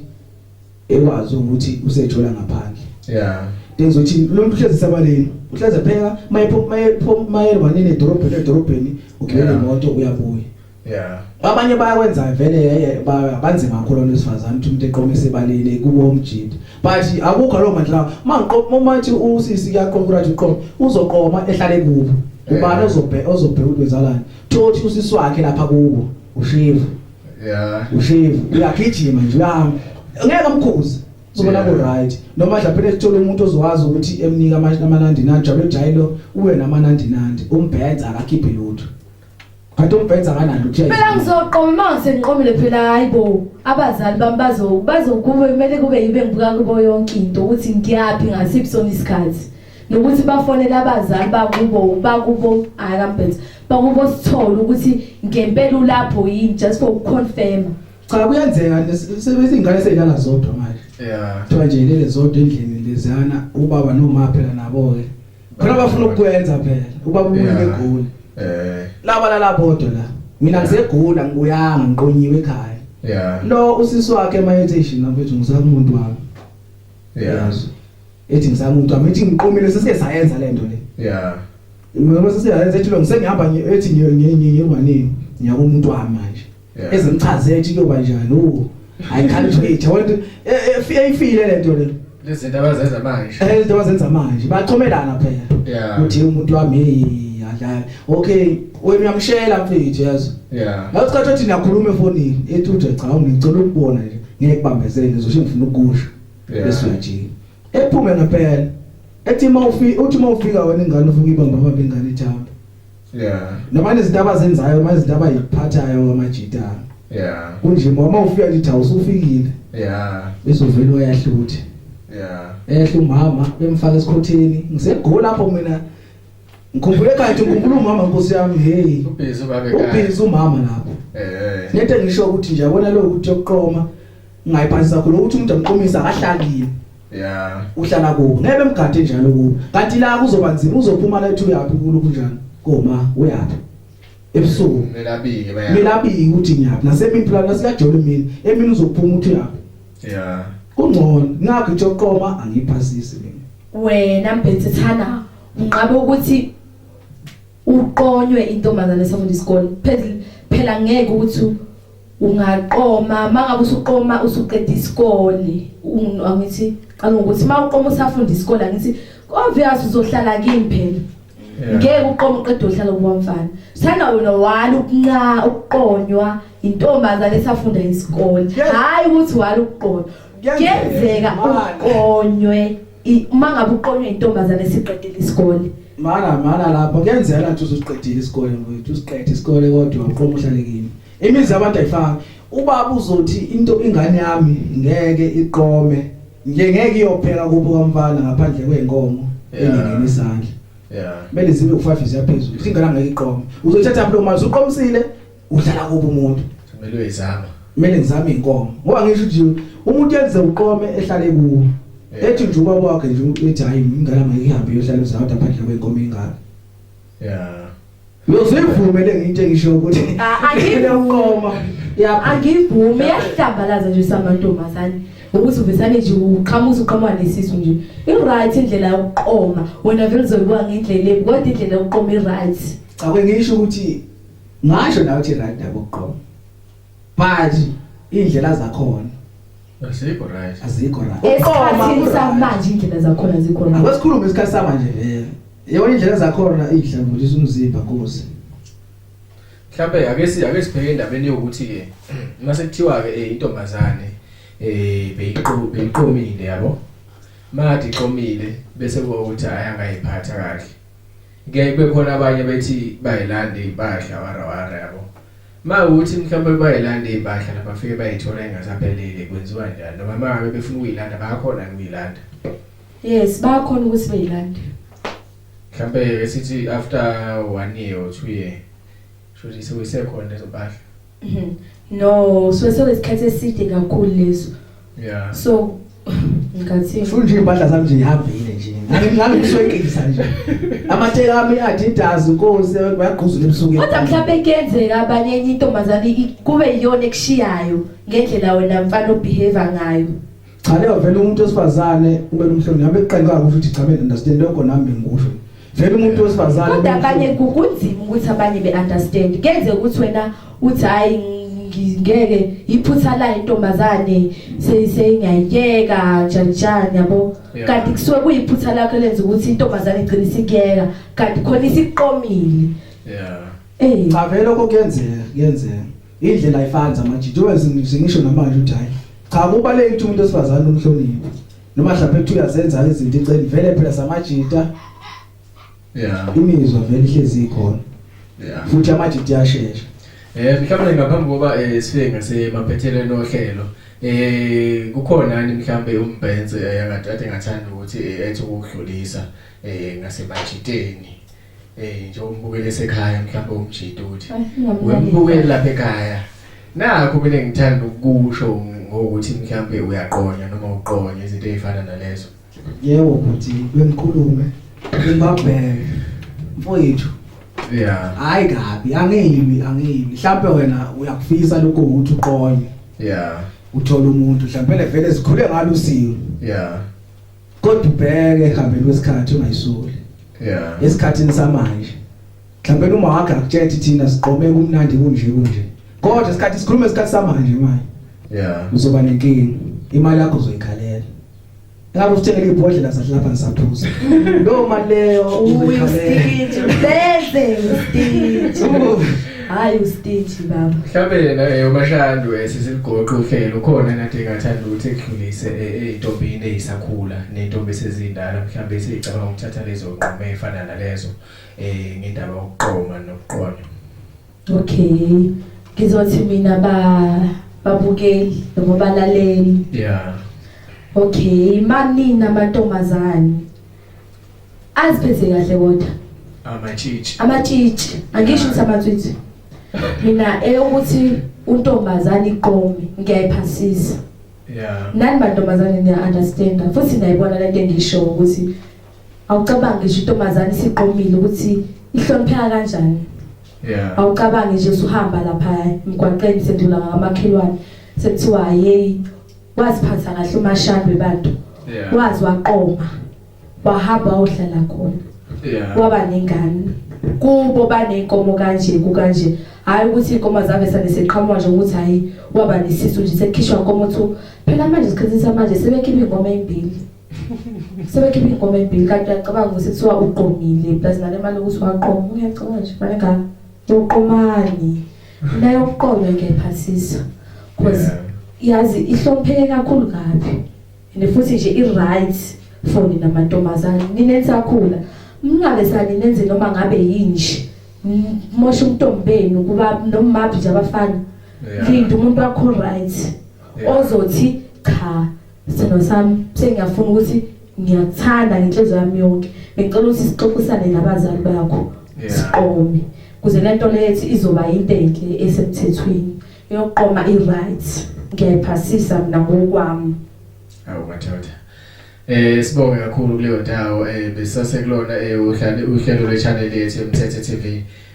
ekwazi ukuthi usethola ngaphandle. Yeah. Ngizothi lo muntu uhlezi sabaleni. Uhlezi pheka mayephuma mayephuma mayelwanene edorobheni edorobheni ugibela imoto uyabuya. Yeah. Abanye bayakwenza vele eh, banzima kakhulu abantu besifazane ukuthi umuntu eqomise ebalile kubo omjidi. But akukho lo mandla lawo. Mangiqoma uma uthi usisi kuyaqoma ukuthi uqoma uzoqoma ehlale kubo. Ubani eh. ozobhe ozobhe ukuthi wenzalani. Thothi usisi wakhe lapha kubo ushivu. Yeah. Ushivu uyagijima nje uyahamba. Ngeke umkhuze. Uzobona ku right. Noma mhlawumbe phela sithola umuntu ozowazi ukuthi emnika amanandi nandi jalo jayilo uwe namanandi nandi umbhenza akakhiphe lutho. Kanti umbhenza kanani uthe. Phela ngizoqoma uma ngisenqomile phela hayibo abazali bami bazo bazokube kumele kube yibe ngibuka kubo yonke into ukuthi ngiyaphi ngasiphi sona isikhathi. Nokuthi bafonele abazali bakubo bakubo hayi kaMbhenza bakubo sithole ukuthi ngempela ulapho yini just for ukuconfirm. Cha kuyenzeka sebese ingane seyilala zodwa manje. Yeah. Kuthiwa nje lele zodwa endlini lezana ubaba nomama phela nabo ke. khona bafuna ukukwenza phela uba umuntu egoli eh laba lala bodwa la mina ngisegula ngibuyanga ngiqonyiwe ekhaya yeah lo usisi wakhe mayethe nabethu ngisakumuntu wami yeah ethi ngisamuntu wami ethi ngiqomile sesike sayenza lento le yeah ngoba sesiyayenza ethi lo ngisengihamba ethi ngiye ngiye ngiye ngwanini ngiyakumuntu wami manje ezimchazele ukuthi kuyoba njani u I can't wait I want eyifile lento le lezinto abazenza manje eh izinto abazenza manje bachomelana phela ukuthi umuntu wami adlala okay wena uyamshela mfethu yazi yeah la usikhathi othi niyakhuluma efonini ethi uthe cha ngicela ukubona nje ngeke kubambezele ngizosho ngifuna ukusho bese uyajika ephume ngempela ethi uma ufika uthi uma ufika wena ingane uvuka ibamba baba ingane ithamba yeah noma nezinto abazenzayo uma izinto abayiphathayo ngamajita yeah kunje mama ufika nje thawu usufikile yeah bese uvela uyahluthi yeah ehle umama bemfaka esikhotheni ngisegoli lapho mina ngikhumbule kade ngikhumbula umama nkosi yami hey ubhizi babe kade ubhizi umama lapho eh nete ngisho ukuthi nje yabona lo ukuthi yokuqoma ngayiphathisa khona ukuthi umuntu amqomisa akahlakile Yeah. Uhlala kubo. Ngeke bemgade njalo kubo. Kanti la kuzoba nzima uzophuma la ethi uyaphi kulo kunjani? Koma uyaphi? Ebusuku. Melabike bayaphi? Melabike ukuthi ngiyaphi. Nasemini plan nasiyajole mina. Emini uzophuma uthi uyaphi? Yeah. Kungcono. Ngakho nje uqoma angiphasisi mina. Wena mbethethana unqabe ukuthi uqonywe intombazane esafunda isikole phezulu phela ngeke ukuthi ungaqoma mangabe usuqoma usuqeda isikole angithi qala ukuthi mawuqoma usafunda isikole angithi obvious uzohlala kimi phela ngeke uqoma uqeda uhlala kuba mfana sana wena wala ukunqa ukuqonywa intombazane esafunda isikole hayi ukuthi wala ukuqonywa kuyenzeka uqonywe I- uma ngabe uqonywe intombazane siqedile isikole Mana mana lapho kuyenzeka ukuthi usuqedile isikole mfowethu usiqede isikole kodwa uqoma uhlale kimi. Imizi yabantu ayifani. Ubaba uzothi into ingane yami ngeke iqome. Nje ngeke iyophela kubo kwamfana ngaphandle kwenkomo Yeah. engene isandla. Yeah. Kumele zibe u5 ziyaphezulu. Ingane ngeke iqome. Uzothatha mlo mali uqomisile uhlala kubo umuntu kumele uyizama kumele ngizame inkomo ngoba ngisho ukuthi umuntu yenze uqome ehlale kuwo ethi nje ubaba wakhe nje uthi hayi ingane mayihambe yohlala uzama ngaphandle kwenkomo ingane yeah Uyozivumeleke into engisho ukuthi angivume. Yabo angivume yahlambalaza nje samantombazane. ukuthi uvesane nje uqhamuza uqhamuka nesisu nje i-right indlela yokuqoma wena vele uzoyibuka ngendlela ebi kodwa indlela yokuqoma i-right cha kwengisho ukuthi Ngasho nawe ukuthi right yabo uqobo. But indlela zakhona Asikho right. azikho right. esikhathini samanje indlela zakhona zikhona Akwesikhulume isikhathi samanje vele. Yebo indlela zakhona idlambulisa umzimba kuze. Mhlawumbe ake si ake sibheke endabeni yokuthi ke mase kuthiwa ke eh, intombazane eh beyiqo beyiqomile yabo. Made iqomile bese kuba ukuthi ayangayiphatha kahle. Kuyaye kube khona abanye bethi bayilanda iy'mpahla warawara yabo. Uma ukuthi mhlawumbe bayilanda iy'mpahla la bafike bayithola ingasaphelele kwenziwa njani noma uma ngabe befuna ukuyilanda bayakhona yini ukuyilanda? Yes, bayakhona ukuthi beyilande. Mhlawumbe sithi after one year or two year shuthi sekuyisekhona lezo mpahla. Mhm. No, so sekwesikhathi eside kakhulu leso. Yeah. So ngathi Futhi nje impahla zami nje ihambile nje. Ngani ngani ngiswekisa nje. Amathela ami adidas inkosi bayagquzula ebusuku. kodwa mhlawumbe kuyenzeka abanye enye intombazane i- kube yiyona ekushiyayo ngendlela wena mfana obehave ngayo. Cha leo vele umuntu wesifazane ube nomhlonipho ngabe kuqala kahle ukuthi cha mina understand lokho nami ngikusho. Vele umuntu wesifazane kodwa abanye kunzima ukuthi abanye be understand. Kenze ukuthi wena uthi hayi ngeke iphutha la intombazane seyingayiyeka njanjani yabo kanti kusuke kuyiphutha lakho lenza ukuthi intombazane igcine isikuyeka kanti khona isiqomile yeah eh cha vele lokho kuyenzeka kuyenzeka Indlela ayifani zamanje njengoba zingisho namanje ukuthi hayi cha kubaleke ukuthi umuntu osifazane umhloniphe noma mhlawumbe ukuthi uyazenza izinto iceli vele phela samajita yeah imizwa vele ihlezi ikhona yeah futhi amajita yashesha eh mhlawumbe ngaphambi kokuba eh, sifike ngasemaphethelweni ohlelo eh kukhona ni mhlambe umbhenze eh, angathi ngathanda ukuthi eh, ethi ukudlulisa eh ngasemajiteni Eh nje umbukele esekhaya mhlawumbe umjita uthi wembukele lapha ekhaya. Nakho mina ngithanda ukusho ngokuthi mhlawumbe uyaqonya noma uqonya izinto ezifana nalezo. Yebo bhuti bengikhulume ngibabheke mfowethu yeah hayi kabi angeyibi angeyibi mhlawumbe wena uyakufisa lokho ukuthi uqonye yeah uthola umuntu mhlawumbe vele zikhule ngalo usiwe yeah kodwa ubheke ehambeni kwesikhathi ungayisoli yeah esikhathini samanje mhlawumbe uma wakhe akutshethi thina siqome kumnandi kunje kunje kodwa isikhathi sikhuluma isikhathi samanje manje yeah uzoba nenkingi imali yakho uzoyikhalela Ngabe usithengele ibhodlela sasilapha ngisaphuza. Lo mali leyo uyikhalela. Beze ngididi. hayi ustage baba mhlawumbe yena yomashandu eh, sisiligoqo uhlelo khona nathi engathanda ukuthi ekudlulise eh, eyintombini eyisakhula nentombi esezindala mhlawumbe eseyicabanga ukuthatha lezo nqumo efana nalezo eh ngendaba yokuqoma nokuqonya okay ngizothi mina ba babukeli noma balaleli yeah okay manina amantombazane Aziphethe kahle kodwa. Amatshitshi. Amatshitshi. Angisho ukuthi amatswitsi. Mina eyokuthi untombazane iqome ngiyayiphasisa. Yeah. Nani bantombazane niya understand futhi niyayibona lento engisho ukuthi awucabange nje intombazane isiqomile ukuthi ihlonipheka kanjani. Yeah. Awucabange nje usuhamba lapha emgwaqeni sendula ngamakhelwane sekuthiwa hey waziphatha kahle umashandwe bantu yeah. wazi waqoma wahamba uhlala khona yeah. waba nengane kubo banenkomo kanje kukanje hayi ukuthi inkomo zave sane seqhamuka nje ukuthi hayi waba nesisu nje sekukhishwa inkomo thu phela manje isikhathi samanje sebekhipha inkomo ezimbili sebekhipha inkomo ezimbili kanti uyacabanga ukuthi kuthiwa uqomile plus nale mali ukuthi waqoma uyacabanga nje manje ngani uqomani Nayokuqonda kepha sisi cause yazi ihlopheke kakhulu kabi and futhi nje i right for nina mantombazane nina ensakhula mngabe sani nenze noma ngabe yinje mosha umntombi benu kuba nomaphi nje abafana linda umuntu wakho right ozothi cha Sithando sami sengiyafuna ukuthi ngiyakuthanda ngenhliziyo yami yonke. Bengicela ukuthi sixoxisane nabazali bakho. Siqome. Kuze lento lethi izoba into enhle esemthethweni. Yokuqoma i-right. Ngiyayiphasisa mina ngokwami. Awu madoda. Eh sibonge kakhulu kuleyo ndawo eh besase kulona eh uhlale uhlelo lwe channel yethu eMthethe TV.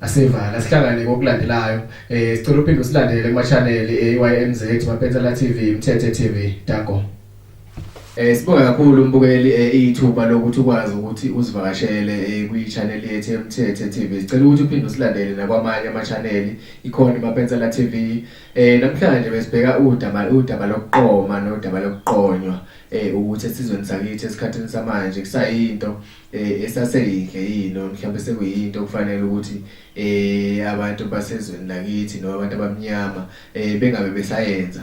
Asiva la sihlangane ngokulandelayo eh sicela uphinde usilandele kuma channel eYMZ eh, Mapensela TV Mthethe TV Dago Eh sibonga kakhulu umbukeli eh, ithuba lokuthi ukwazi ukuthi usivakashele eh, kwi channel yethu eMthethe TV. Sicela ukuthi uphinde usilandele nakwamanye ama channel ikhona iMapensela TV. Eh namhlanje besibheka udaba udaba lokuqoma nodaba lokuqonywa eh ukuthi esizweni sakithi esikhathini samanje kusayinto eh, esaseyinhle yini noma mhlawumbe sekuyinto okufanele ukuthi eh abantu basezweni lakithi noma abantu abamnyama eh bengabe besayenza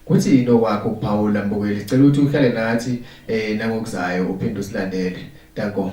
kuthi yini okwakho ukuphawula mbukeli cela ukuthi uhlale nathi eh nangokuzayo uphinde usilandele danko